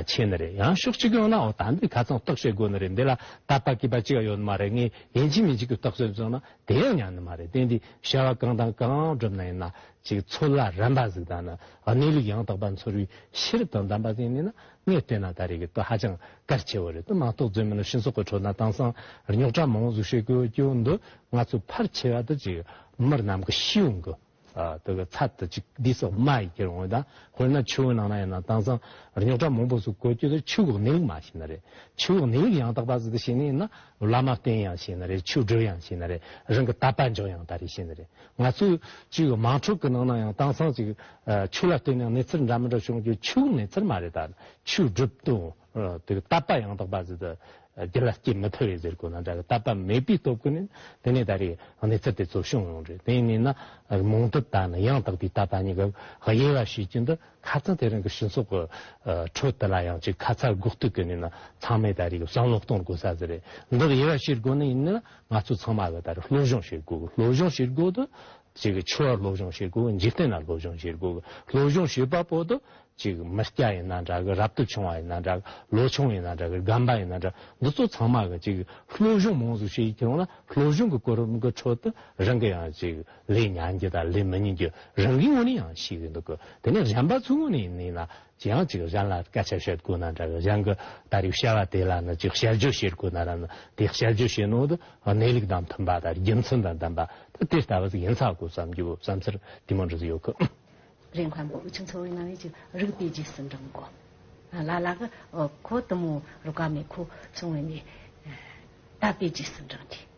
ཆེ་ནི་རེད་ཡང་ཤོག་ཅིག་ཡང་ན་འོ་ད་འདི་ག་ཚང་རྟོག་བྱེད་དགོས་ནི་རེད་འདི་ལ་ད་པ་གིས་པ་ཅིག་ཡོད་ནི་མ་རེད་ངས་ཡིན་གྱི་མིན་གྱི་གི་རྟོག་བྱེད་བཟུང་ན་དེ་ཡང་ཉན་ནི་མ་རེད་དེ་འདི་བྱ་བ་གང་དང་གང་བསྒྲུབ་ན་ཡིན་ན་ཅིག་ཚུར་ལ་རན་པ་ཟིག་དང་ནི། གནས་ལུགས་ཡང་དག་པ་འཚོལ་བའི་ཕྱིར་དོན་དམ་པ་དེ་ནི་ན་ངས་ལྟོས་ན་ད་རེས་ཀྱི་ལྟོས་ཧ་ཅང་གལ་ཆེ་བོ་རེད་དོ་མ་གཏོགས་རྫུན་མིན་ལ་ཤིང་སོགས་ཀྱི་ཁྲོད་ན་དྭངས་སང་རྙོག་དྲ་མང་བོ་གཟུགས་བྱེད་ཀྱི་ཀྱོ་འདི་ང་ཚོས་ཕར་ཆེ་བ་དུ་ཅིག་མི་རྣམས་ཀྱི་ཤེས་ཡོན་གྱི་དུ་གི་ཚ་དུ་ཅིག་འདི་སོགས་མ་ཡི་གེར་འོན་ཏང་དཔེར་ན་ཆུ་བོའི་ནང་ན་ཡང་ན་དྭངས་སང་རྙོག་དྲ་མང་བོ་གཟུགས་ཀྱི་ཀྱོ་དུ་ཆུ་བོའི་གནས་ལུགས་མ་ཤེས་ན་རེད་ཆུ་བོའི་གནས་ལུགས་ཡང་དག་པ་ཟིག་དུ་ཤེས་ནས་ན་བླ་མ་བསྟེན་ཡང་ཤེས་ན་རེད་ཆོས་སྒྲོས་ཡང་ཤེས་ན་རེད་རང་གི་ད་པ་འཇོག་ཡང་ད་རེས་ཤེས་ན་རེད་ང་ཚོས་ཅིག་དམངས་ཁྲོད་ཀྱི་ནང་ན་ཡང་དྭངས་སང་ཅིག་ཆུ་ལ་བལྟས་ན་གནས་ཚུལ་འདྲ་མི་འདྲ་བྱུང་རྒྱུ་ཆུའི་གནས་ཚུལ་མ་རེད་ད་ཆུའི་སྒྲུབ་སྟོན་དེ་གདབ་པ་ཡང་དག་པ་ཟིག་ད་རྒྱུ་ལ་སྐྱེ་མི་ཐུབ་རེད་ཟེར་དགོས་ན་འདྲ་གི་གདབ་པ་མེད་པའི་སྟོབས་ཀྱི་ནི་དེ་ནས་ད་རེས་གནས་ཚུལ་དེ་ཚོ་བྱུང་ཡོང་རེད་དེ་ནས་ན་མོང་དུ་ད་ནི་ཡང་དག་པའི་གདབ་པ་ནི་གི་དབྱེ་བ་ཤེས་རྒྱུ་འདི་ཁ་ཚང་དེ་རིང་གི་སྤྱི་ཚོགས་ཀྱི་ཁྲོད་དུ་ལ་ཡང་ཅིག་ཁ་ཚར་དགོས་གཏུགས་ཀྱི་ནི་ན་ཚང་མས་ད་རེས་གསང་སློབ་གཏོང་དགོས་ས་ཟིག་རེད་འདི་དབྱེ་བ་ཤེས་དགོས་ནི་ཡིན་ན་ང་ཚོ་ཚང་མ་དེ་ལྟར་སློབ་སྦྱོང་བྱེད་དགོས། སློབ་སྦྱོང་བྱེད་དགོས་དུ། ཆོས་སློབ་སྦྱོང་བྱེད་དགོས། འཇིག་རྟེན་ལ་སློབ་སྦྱོང་བྱེད་དགོས། སློབ་སྦྱོང་བྱེད་པ་པོ་དུ། མི་སྐྱ་ཡིན་ན་འདྲ་གི་རབ་ཏུ་ཆུང་བ་ཡིན་ན་འདྲ་གི་ལོ་ཆུང་ཡིན་ན་འདྲ་གི་རྒན་པ་ཡིན་ན་འདྲ་འདི་ཚོ་ཚང་མ་གི་སློབ་སྦྱོང་མང་ཙུག་བྱེད་ཀྱི་ཡོང་ན་སློབ་སྦྱོང་གི་སྐོར་རུམ་གི་ཁྲོད་དུ་རང་གི་ཡང་ལས་མྱང་རྒྱུ་དང་ལས་མི་མྱང་རྒྱུ་རང་གི་ངོ་ནས་ཡང་ཤེས་ཀྱི་འདུག་གི་དེ་ནས་གཞན་པ་ཚོའི་ངོ་ནས་ཡིན་ན་ཅི་ཡང་ཅིག་གཞན་ལ་སྐད་ཆ་བཤད་དགོས་ན་འདྲ་གི་གཞན་གི་ད་རེས་བཤད་པ་དེ་ལ་ནི་ཅིག་དཔྱད་བརྗོད་བྱེད་དགོས་ན་ར་ནི་དེ་དཔྱད་བརྗོད་བྱེད་ནོ་དི་གནས་ལུགས་དང་མཐུན་པ་དང་རྒྱུ་མཚན་དང་ལྡན་པ་དེ་དེ་ལྟ་བུ་ཟིག་ཡིན་ཚ་དགོས་བསམ་རྒྱུ་བསམ་ཚུལ་དེ་མོ་འདྲི་ཡོད་གི། རེ་མཁན་པོ་ཁྱི་འཚོ་བའི་ནང་བའི་ཅིག་རིགས་པའི་རྗེས་སུ་འབྲང་གོ། ལ་ལ་གི་ཁོ་དུ་མོ་རུ་ཀ་མེད་ཁོ་སོང་བས་ནས་ད་པའི་རྗེས་སུ་འབྲང་གི།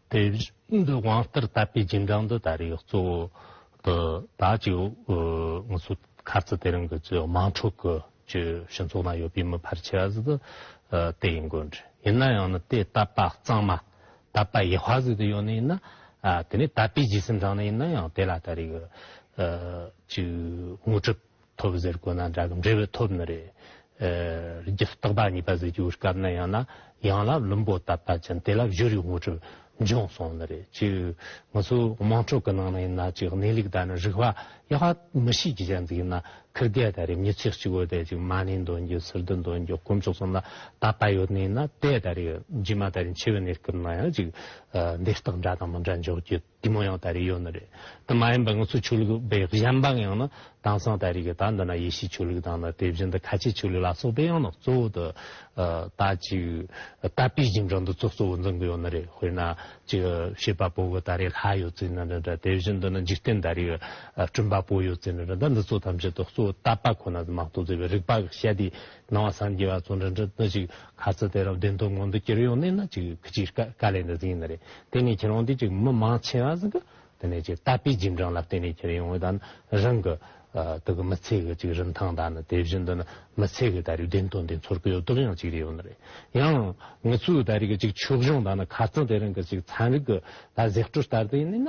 དེ་བཞིན་དུ་དབང་ལྟར་བཏབ་པའི་རྗེས་འབྲང་དུ་ད་རེས་གཙོ་བོ་དུ་བདག་གཅིག་ངུ་ཚོ་ཁ་རྩི་དེ་རིང་གི་ཚོའི་དམངས་ཁྲོད་ཀྱི་ཆོས་ཕྱི་ཚོགས་ན་ཡོད་པའི་མི་ཕར་ཆེ་བ་ཟིག་ཏུ་དེ་ཡིན་དགོས་འདྲི་ཡིན་ན་ཡང་ནི་དེ་བཏབ་པ་གཙང་མ་བཏབ་པ་ཡེ་བྷ་ཟིག་ཏུ་ཡོད་ནི་ཡིན་ན་དེ་ནས་བཏབ་པའི་རྗེས་སེམས་འབྲང་ནི་ཡིན་ན་ཡང་དེ་ལ་ད་རེས་གཅིག་ངུ་གྲིབ་ཐོབ་ཟེར་དགོས་ན་འདྲ་གི་འབྲེལ་བའི་ཐོབ་ནི་རེད། རྒྱུ་རྟག་པ་གཉིས་པ་ཟེར་རྒྱུ་སྐབས་ན་ཡང་ན་ཡང་ལ་བླུན་པོ་ལྟ་བ་ཅན་དེ་ལ་བཞུར་ཡུལ་དངོས་གྲུབ་འབྱུང་སོང་ནི་རེད། ཅི་ང་ཚོ་དམངས་ཁྲོད་ཀྱི་ནང་ན་ཡིན་ན་ཅིག་གནས་ལུགས་དང་ནི་རིག་པ་ཡག་པ་མི་ཤེས་ཀྱི་ཅན་དུ་ཡིན་ན་ཁིར་རྒས་ད་རེས་མྱི་ཚེ་གཅིག་བོ་དེ་ཅིག་མ་ནི་འདོན་རྒྱུ་ཟུར་དུ་འདོན་རྒྱུ་དཀོན་མཆོག་གསུམ་ལ་ད་པ་ཡོད་ནི་ཡིན་ན་དེ་ད་རེས་རྗེས་མ་ད་རེས་འཆི་བའི་གནས་སྐབས་ན་ཡང་ཅིག་འདི་ལྟར་འདྲ་དང་མི་འདྲ་འཇོག་རྒྱུ། དེ་མོ་ཡང་ད་རེས་ཡོད་ནི་རེད་དེ་མ་ཡིན་པར་ང་ཚོ་ཆོས་ལུགས་པའི་གཞན་ཕངས་ཡང་ན་དྭངས་སང་ད་རེས་ཀྱི་ད་འདི་ན་ཡེ་ཤེས་ཆོས་ལུགས་དང་ནི་དེ་བཞིན་དུ་ཁ་ཆེ་ཆོས་ལུགས་ལ་སོགས་པའི་ཡང་ན་གཙོ་བོ་དུ་ད་ཅིག་ད་པི་ཇིང་དྲང་དུ་ཚོགས་གཙོ་བོ་འཛིན་གི་ཡོད་ནི་རེད་དཔེར་ན་ཅིག་བྱེས་པ་པོ་གི་ད་རེས་ལྷ་ཡོད་ཚུལ་ནི་རེད་དེ་བཞིན་དུ་ནི་འཇིག་རྟེན་ད་རེས་སྤྲིན་པ་པོ་ཡོད་ཚུལ་ནི་རེད་འདི་ཚོ་ཐམས་ཅད་དུ་གཙོ་བོ་ད་པ་ཁོ་ན་མང་གཙོ་མཛད་པའི་རིག་པ་གཞལ་དུས་སྣང་བ་སངས་རྒྱས་པ་ཚོ་འདྲ་འདྲ་ན་ཅིག་ག་ཚོད་དེ་རབ་བདེན་སྟོང་ངང་དུ་གྱེར་ཡོང་ནས་ན་ཅིག་ཁྱི་ཅིག་ཀ་ཀ་ལས་འདི་ཟིན་ཡིན་ན་རེད་དེ་ནས་ཁྱེད་རང་དེ་ཅིག་མི་མང་ཆེ་བ་ཟིག་གི་དེ་ནས་ཅིག་ལྟ་པའི་རྗེས་འབྲང་ལ་བརྟེན་ནས་གྱེར་ཡོང་དང་ན་རང་གི་དེ་གི་མི་ཚེ་གི་ཅིག་རིན་ཐང་དང་ན་དེ་བཞིན་དུ་ན་མི་ཚེ་གི་ད་རེའི་བདེན་དོན་དེ་ཚོར་གི་ཡོད་དོགས་ཡང་ཅིག་རེ་ཡོད་ན་རེད་ཡང་ངི་ཚོའི་ད་རེས་གི་ཅིག་ཕྱོགས་གཞུང་དང་ན་ག་ཚོད་དེ་རིང་གི་ཅིག་ཚན་རིག་གི་ད་གཟེགས་བཀྲོལ་ལྟར་དུ་ཡིན་ནས་ན་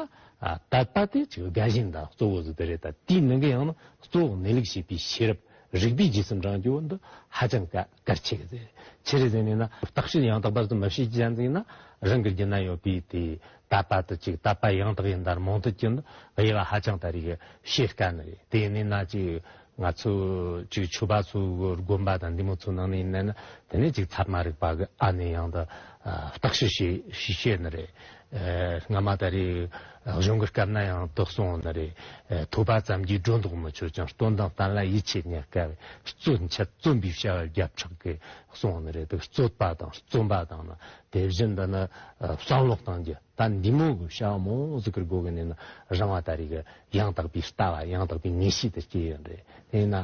ད་ལྟ་དེ་ཅིག་དགའ་ཞེན་དང་གཙོ་བོ་ཟིག་དེ་རེད་ད་དེའི་ནང་གི་ཡང་ན་གཙོ་བོ་གནས་ལུགས་ཤེས་པའི་ཤེས་རབ་རིགས་པས་ཇི་སེམས་དྲང་རྒྱུ་འདི་ཧ་ཅང་གལ་ཆེ་གི། ཆེ་རེ་ཟེར་ནས་ན་བརྟག་བྱའི་ཡང་དག་པ་དེ་མི་ཤེས་ཀྱི་ཡང་ཟིན་ན་རང་གི་རྒྱུད་ན་ཡོད་པའི་དེ་ད་པ་དེ་ཅིག་ད་པ་ཡང་དག་ཡིན་དར་མང་དུ་གྱི་འདི་དབྱེ་བ་ཧ་ཅང་ད་རེ་གི་ཤེས་དཀའ་ནི་རེད་དེ་ནས་ན་ཅིག་ང་ཚོ་ཅིག་ཆོས་པ་ཚོ་གི་དགོན་པ་དང་འདི་མོ་ཚོ་ནང་ནས་ཡིན་ན་ནི་དེ་ནས་ཅིག་ཚབ་མ་རིག་པ་གི་ཨ་ནི་ཡང་དག་བརྟག་བྱའི་ཤེས་ནི་རེད། སྔ་མ་ད་རེས་གཞུང་གི་སྐབས་ན་ཡང་དོགས་སོང་བ་ན་རེ། ཐོས་པ་ཙམ་གྱིས་སྒྲོ་འདོགས་མི་ཆོད་ཅིང་སྟོན་དང་བསྟན་ལ་ཡིད་ཆེས་གཉེར་དཀའ་བས་རྩོད་འཆད་བརྩོན་པའི་བྱ་བ་རྒྱབ་ཆགས་ཀྱི་སོང་བ་ན་རེ་དེ་རྩོད་པ་དང་བརྩོན་པ་དང་ནི་དེ་བཞིན་དུ་ནི་བསམ་བློ་གཏང་རྒྱུ་ད་འདི་མོ་གི་བྱ་བ་མང་ཟིག་གིར་དགོས་ཀྱི་ནི་ན་རང་བ་ད་རེས་ཀྱི་ཡང་དག་པའི་ལྟ་བ་ཡང་དག་པའི་ངེས་ཤེས་དེ་སྐྱེ་ཡོད་རེད་དེས་ན་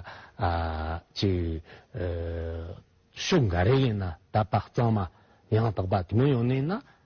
ཕྱོགས་འགའ་རེ་ཡིན་ན་ད་དཔག་གཙང་མ་ཡང་དག་པ་དེ་མོ་ཡོང་ནས་ན་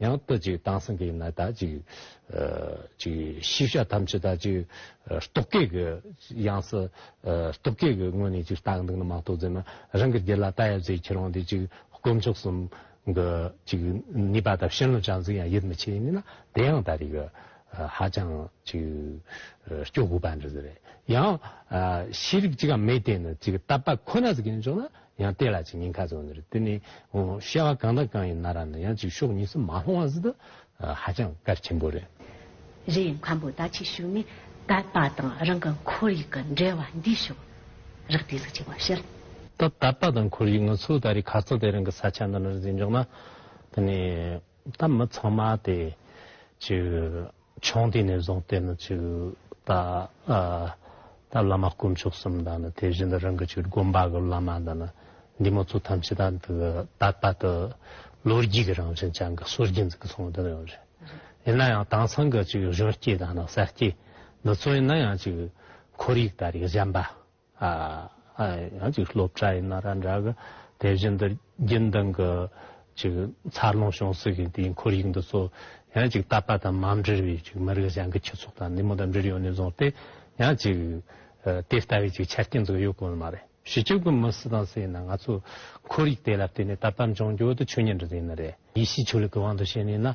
ཡང་དག་ཅིག་དྭངས་སངས་རྒྱས་ནི་དག་ཅིག། ཅིག། ཤེས་བྱ་ཐམས་ཅད་དག་ཅིག། རྟོག་གེ་གི། ཡང་སྲིད། རྟོག་གེ་གི་སྔོན་ནས་ཅིག་རྟག་འདུག་ན་མ་རྟོག་མཛད་ན། རང་གི་རྒྱུད་ལ་རྟག་ཡབ་ཟེར་ཁྱེད་རང་དེ་ཅིག། དཀོན་མཆོག་གསུམ། གི། ཅིག། ནུས་པ་དང་ཤེས་རྣོ་ཅང་ཟིག་ཡང་ཡིད་མི་ཆེས་ཡིན་ན་དེ་ཡང་ད་རེས་ཀྱི། ཧ་ཅང། ཅིག། སྐྱོ་དགོས་པ་འདྲ་ཟེར། ཡང། ཤེས་རིག་ཅིག་གམ་མེད་དེ་ནི་ཅིག་རྟག་པ་ཁོ་ན་ཟིག་ཡིན་ཆོག་ན། ཡང་བལྟས་ལ་ཅིག་ཉིན་ཁ་ཙོག་འདིར་བསྟུན་ནས་བཤད་བ་གང་དང་གང་ཡིན་ན་ར་ན་ཡང་ཅིག་ཤོག་གཉིས་སུ་མ་ལྷུང་བ་ཟིན་ཏོ། ཧ་ཅང་དཀར་ཆེན་པོ་རེད། རི་ཡི་མཁའ་འབོད་ད་ཅིག་ཞུགས་ནས་དད་པ་དང་རང་གི་ཁོར་ཡུག་གི་འབྲེལ་བ་འདིས་ཤོག་རག་དུས་ཚིགས་ཆེ་བ་ཕྱིར། ད་དད་པ་དང་ཁོར་ཡུག་ང་ཚོས་ད་རི་ཁ་ཙོག་དེ་རང་གི་ས་ཆ་འདི་ན་རེ་ཟིན་འཇོག་ན། དེ་ནས་ད་མི་ཚང་མ་དེ་ཅིག། ཆུང་དུས་ནས་བཟུང་སྟེ་ནི་ཆུ་ད་ལྟ་བླ་མ་དཀོན་མཆོག་གསུམ་དང་ནི་དེ་བཞིན་དུ་རང་གི་ཆོས་དགོན་པ་གི་བླ་མ་དང་ནི་འདི་མོ་ཚོ་ཐམས་ཅད་དང་དུ་ད་ལྟ་དུ་ལོ་རྒྱུས་ཀྱི་རང་བཞིན་ཅན་གྱི་སྲོལ་རྒྱུན་འཛིན་གི་སོང་བ་དེ་འདྲ་ཡོད་རེད། ཡིན་ན་ཡང་དེང་སང་གི་གཞོན་སྐྱེས་དང་ནི་གསར་སྐྱེས་འདི་ཚོས་ནི་ཡང་ཅིག་ཁོར་ཡུག་ད་རེས་གཞན་པ། ཡང་ཅིག་སློབ་གྲྭ་ཡིན་ན་ར་འདྲ་གི་དེ་བཞིན་དུ་རྒྱུན་ལྡན་གྱི་ཅིག་འཚར་ལོངས་བྱུང་སྲིད་མཁན་དེའི་འཁོར་ཡིག་འདི་ཚོ་ཡང་ཅིག་བཏབ་པ་དང་མ་འབྲེལ་བའི་ཅིག་མི་རིགས་གཞན་གྱི་ཁྱུ་ཚོགས་དང་འདི་མོ་དང་འབྲེལ་ཡོད་ནས་བཟུང་སྟེ་ཡང་ཅིག་དེ་ལྟ་བུའི་ཅིག་ཆ་རྐྱེན་ཚོ་ཡོད་དགོས་ནི་མ་རེད། བྱེད་སྤྱོད་ཀྱི་མི་སུ་དང་སུ་ཡིན་ན་ང་ཚོས་འཁོར་ཡིག་དེ་ལ་བརྟེན་ནས་ད་ཕར་འབྱུང་འགྱུར་དུ་ཆོས་ཉིད་འདི་འཛིན་ནི་རེད། ཡེ་ཤེས་ཆོས་ལུགས་ཀྱི་དབང་དུ་བྱས་ནས་ན་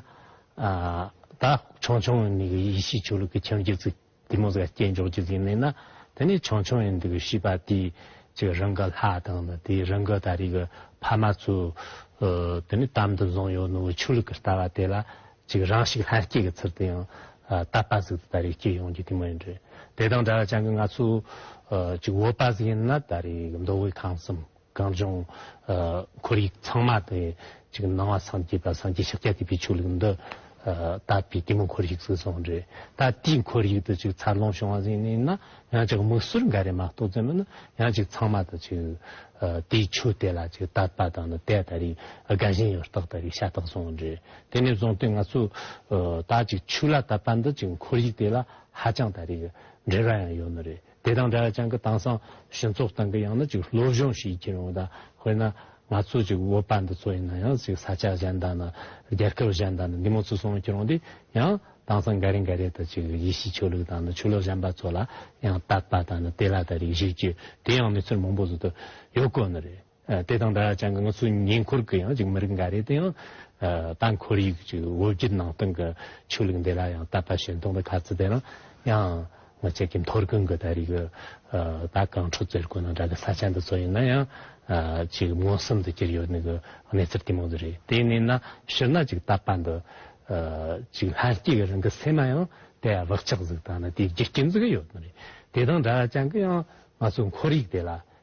ད་ཆུང་ཆུང་ནས་ཡེ་ཤེས་ཆོས་ལུགས་ཀྱི་ཁྱིམ་རྒྱུད་ཚིག། དེ་མོ་ཟེར་སྐྱེས་མཆོག་ཅིག་ཟིན་ནས་ན་དེ་ནས་ཆང་ཆང་ཡིན་འདུག་ཤི་པ་དེས་ཀྱི་རང་གི་ལྷ་དང་ནི་དེའི་རང་གི་ད་རེས་ཀྱི་ཕ་མ་ཚོ་དེ་ནས་དམ་དུ་བཟུང་ཡོད་ནོ་ཆོས་ལུགས་ཀྱི་ལྟ་བ་དེ་ལ་ཅིག་རང་ཞིག་ལྷན་སྐྱེས་ཀྱི་ཚུལ་དུ་ཡང་བཏབ་པ་ཟིག་ཏུ་ད་རེས་སྐྱེས་ཡོང་རྒྱུ་དེ་མོ་ཡིན་རེད་དེ་དང་འདྲ་བར་ཅང་གི་ང་ཚོ་ཅིག་འོས་པ་ཟིག་ཡིན་ན་ད་རེས་ཀྱི་མདོ་དབུས་ཁམས་གསུམ། གངས་ལྗོངས། ཁོར་ཡུག་ཚང་མ་དེ་གཅིག་སྣང་བ་སངས་རྒྱས་པ་སངས་རྒྱས་ཕྱག་རྒྱ་ཐེབས་པའི་ཆོས་ལུགས་འདི། ད་བོད་ཀྱི་མོ་འཁོར་ཡུག་ཟིག་སོང་རེད་ད་དེའི་འཁོར་ཡུག་དེ་ཅིག་འཚར་ལོངས་བྱུང་བ་ཟིག་ནས་ན་ཡང་ཅིག་མིག་ཟུར་འགའ་རེ་མ་གཏོགས་ཙམ་མིན་ན་ཡང་ཅིག་ཚང་མ་དེ་ཅིག། དེའི་ཆོས་དེ་ལ་ཅིག་དད་པ་དང་ནི་དད་ད་རེས་དགའ་ཞེན་ཡོད་རྟགས་ད་རེས་ཤ་སྟག་སོང་རེད་དེ་ནས་བཟུང་སྟེ་ང་ཚོས། ད་ཅིག་ཆོས་ལ་དད་པ་འདི་ཅིག་འཁོར་ཡུག་དེ་ལ་ཧ་ཅང་ད་རེས་འབྲེལ་བ་ཡང་ཡོད་ནི་རེད། དེ་དང་འདྲ་ཅང་གི་དེང་སང་སྤྱི་ཚོགས་སྟེང་གི་ཡང་ན་ཅིག་སློབ་སྦྱོང་ཞིག་བགྱིད་རུང་དང་དཔེར་ན་ང་ཚོ་ཅིག་བོད་པ་འདི་ཚོ་ཡིན་ན་ཡང་ཅིག་ས་ཆ་གཞན་དང་ནི་རྒྱལ་ཁབ་གཞན་དང་ནི་འདི་མོ་ཚུར་སོང་བགྱིད་རུང་དེ་ཡང་དེང་སང་འགའ་རེ་འགའ་རེ་དང་ཅིག་ཡེ་ཤེས་ཆོས་ལུགས་དང་ནི་ཆོས་ལུགས་གཞན་པ་ཚོ་ལ་ཡང་དད་པ་དང་ནི་དེ་ལ་དེ་རིགས་བཞེས་བགྱིད་དེ་ཡང་མི་ཚོར་མང་པོ་ཟུར་དུ་ཡོད་དགོས་ནི་རེད། དེ་དང་འདྲ་ཅང་གི་ང་ཚོའི་ཉེ་འཁོར་གྱི་ཡང་ཅིག་མི་རིགས་འགའ་རེ་དེ་ཡང་ད་འཁོར་ཡུག་ཅིག་འོད་བརྒྱུད་ནང་སྟེང་གི་ཆོས་ལུགས་འདི་ལ་ཡང་དད་པ་ཞེན་མཐོང་དང་ཁ་ཚི་དེ་རང་ཡང་ང་ཅག་གི་མཐོར་གུན་གྱི་ད་རིག་གི་ད་གངས་ཕྲུག་ཙེར་གོ་ནང་འདྲ་གི་ས་ཆ་འདི་ཚོ་ཡིན་ན་ཡང་ཅིག་མངོན་སུམ་དུ་གྱུར་ཡོད་ནི་གི་གནས་ཚུལ་དེ་མང་དུ་རེད་དེ་ནས་ན་ཕྱིར་ན་ཅིག་དད་པ་འདི་ཅིག་ལྷན་སྐྱེས་ཀྱི་རང་གི་སེམས་མ་ཡང་དེ་བག་ཆགས་གཟུགས་དང་ན་དེ་རྒྱུ་རྐྱེན་གཟུགས་ཡོད་ནི་རེད་དེ་དང་འདྲ་ཅང་གི་ཡང་ང་ཚོའི་འཁོར་ཡུག་དེ་ལ་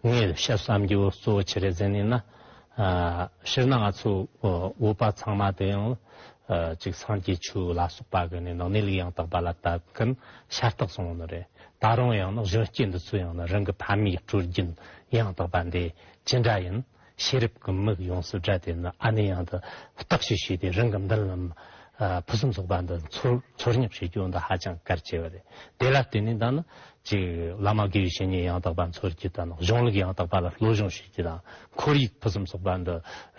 ངས་བཤད་བསམ་རྒྱུ་གཙོ་བོ་ཆེ་རེ་ཟན་ནི་ན་ཕྱིར་ན་ང་ཚོའི་དབུ་བ་ཚང་མ་དེ་ཡང་ཅིག་སངས་རྒྱས་ཆོས་ལ་སོགས་པ་གི་ནི་ནང་ནས་ལུགས་ཡང་དག་པ་ལ་བཏབ་མཁན་ཤ་སྟག་བཟང་བོ་ནི་རེད་ད་རུང་ཡང་ན་གཞོན་སྐྱེས་འདི་ཚོས་ཡང་ན་རང་གི་ཕ་མའི་སྤྲོ་སྐྱིད་ཡང་དག་པ་འདི་ཅི་འདྲ་ཡིན་ཤེས་རབ་ཀྱི་མིག་ཡོངས་སུ་བགྲད་དེ་ནི་ཨ་ནེ་ཡང་འདི་ལྟག་ཞིག་བྱས་ཏེ་རང་གི་མདུན་ལམ་ཕུན་སུམ་ཚོགས་པ་འདི་འཚོལ་སྙེག་བྱེད་རྒྱུ་འདི་ཧ་ཅང་གལ་ཆེ་བ་རེད། དེ་ལ་བརྟེན་ནས་ད་ནི་གཅིག་བླ་མ་དགེ་བའི་བཤེས་གཉེན་ཡང་དག་པ་འཚོལ་རྒྱུ་དང་གཞུང་ལུགས་ཡང་དག་པ་ལ་བློ་སྦྱོང་བྱེད་རྒྱུ་དང་ཁོར་ཡུག་ཕུན་སུམ་ཚོགས་པ་འདི་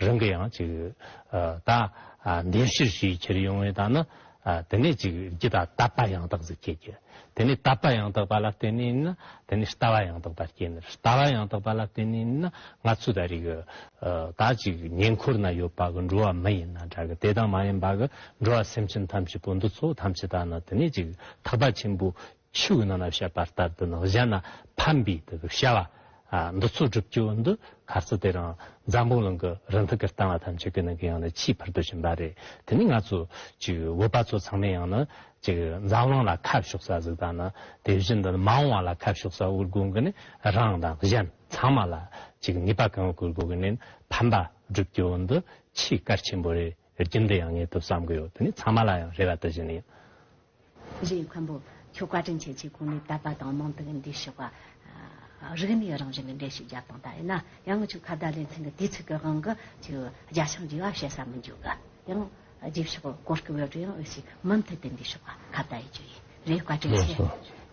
རང་གི་ཡང་གཅིག་ད་འདེམས་གཤེར་བྱེད་ཀྱི་ཕྱིར་ཡོང་བས་ད་ནི་དེ་ནས་གཅིག་རྒྱུ་དང་དད་པ་ཡང་དག་ཟིག་བསྐྱེད་རྒྱུ། དེ་ནས་དད་པ་ཡང་དག་པ་ལ་བརྟེན་ནས་ནི་དེ་ནས་ལྟ་བ་ཡང་དག་པར་སྐྱེ། ལྟ་བ་ཡང་དག་པ་ལ་བརྟེན་ནས་ནི་ང་ཚོའི་ད་རེས་ཀྱི་ད་ཅིག་ཉེ་འཁོར་ན་ཡོད་པ་གི་འགྲོ་བ་མི་ཡིན་ན་འདྲ་གི་དེ་དང་མ་ཡིན་པ་གི་འགྲོ་བ་སེམས་ཅན་ཐམས་ཅད་པོ་འདི་ཚོ་ཐམས་ཅད་དག་ནི་དེ་ནས་ཅིག་ཐག་པ་ཆེན་པོ་ཆུ་ཡི་ནང་ན་བཤད་པ་ལྟར་དུ་ནགས་བྱ་ན་ཕམ་པའི་དུ་བྱ་བ། འདི་ཚོ་སྒྲུབ་རྒྱུ་འདི་ག་ཚོད་དེ་རང་འཛམ་བུ་གླིང་གི་རི་འདི་གར་བཏང་བ་ཐམས་ཅད་ཀྱི་ནང་གི་ཡང་ན་ཆེས་ཕུར་དུ་ཕྱིན་པ་རེད་དེ་ནི་ང་ཚོ་ཅིག་བོད་པ་ཚོ་ཚང་མས་ཡང་ན་ཅིག་འཛམ་གླིང་ལ་ཁ་ཕྱོགས་ས་ཟིག་དང་ནི་དེ་བཞིན་དུ་མ་འོངས་བ་ལ་ཁ་ཕྱོགས་ས་དབུལ་དགོས་གི་ནི་རང་དང་གཞན་ཚང་མ་ལ་ཅིག་ནུས་པ་གང་ཡོད་བཀོལ་དགོས་གི་ནི་ཕམ་པ་སྒྲུབ་རྒྱུ་འདི་ཆེས་གལ་ཆེན་པོ་རེད། རྒྱུན་དུ་ཡང་ངས་དུ་བསམ་གི་ཡོད་དེ་ནས་ཚང་མ་ལ་ཡང་རེ་བ་དུ་བཞིན་ཡོད། རེད་མཁན་པོ། ཁྱོད་བཀའ་དྲིན་ཆེ་ཆེ་གོང་ནས་དད་པ་དང་མང་དུ་གི་འདི་ཞུ་བ། རིག་གནས་རང་བཞིན་གི་འགྲེལ་བཤད་རྒྱབ་དང་ད་ཡིན་ན་ཡང་ཁྱོད་ཁ་བརྡ་ལེ་ཚན་གི་དུས་ཚོད་ཀྱི་དབང་གི་ཁྱོད་རྒྱ་ཤང་རྒྱུ་བ་བཤད་ས་མི་འཇུག་གི་ཡང། རྗེས་ཕྱོགས་གི་གོར་སྐུ་འོད་རུ་ཡང་འོས་ཤིག་མུ་མཐུད་དུ་འདི་ཞུ་བ་ཁ་བརྡ་ཡི་རྒྱུ་ཡིན། རེད་བཀའ་དྲིན་ཆེ།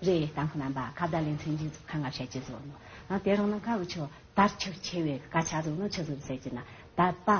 རེད་བསྟན་ཁོ་རྣམ་པ་ཁ་བརྡ་ལེ་ཚན་རྒྱུན་བཙུགས་ཁ་ངར་བྱས་ཀྱི་བཟོ་ནོ། ཡང་དེ་རང་ནང་ཁ་བུ་ཆོས་དར་ཆོས་ཆེ་བས་དཀའ་ཆ་བཟོ་ནོ་ཆོས་བཟོ་བསད་ཀྱི་ན་དད་པ།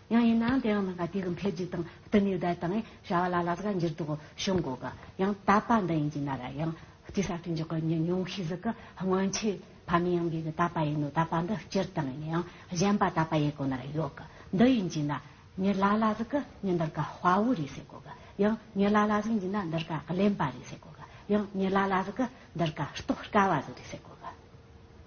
ཡང་ཡིན་ནའང་དེའང་མི་འགའ་དུས་ཀྱི་འཕེལ་རྒྱས་དང་བསྟུན་ནས་བརྡ་དང་བྱ་བ་ལ་ལ་ཟ་ག་འགྱུར་ལྡོག་བྱུང་དགོས་ཀྱི་ཡང་དག་པ་འདི་ཡིན་གྱི་ན་ར་ཡང་སྟེ་གསར་སྐྲུན་གྱི་སྐུ་ཉིད་ཉུང་ཤས་ཟིག་གི་སྔོན་ཆད་ཕ་མེས་ཡང་སྒོས་ཀྱི་དག་པ་ཡིན་ནོ་དག་པ་འདི་སྤྱིར་བཏང་ཡིན་ཡང་གཞན་པ་དག་པ་ཡི་སྒོ་ནར་ཡོད་གི་འདི་ཡིན་གྱི་ན་ཉི་ལ་ལ་ཟིག་གི་ཉི་འདིར་ག་དཔའ་བོ་རེད་ཟེར་དགོས་ཀྱི་ཡང་ཉི་ལ་ལ་ཟིག་ཡིན་གྱི་ན་འདིར་ག་གླེན་པ་རེད་ཟེར་དགོས་ཀྱི་ཡང་ཉི་ལ་ལ་ཟིག་གི་འདིར་ག་རྟོགས་དཀའ་བ་ཟིག་རེད་ཟེར་དགོས་ཀྱི།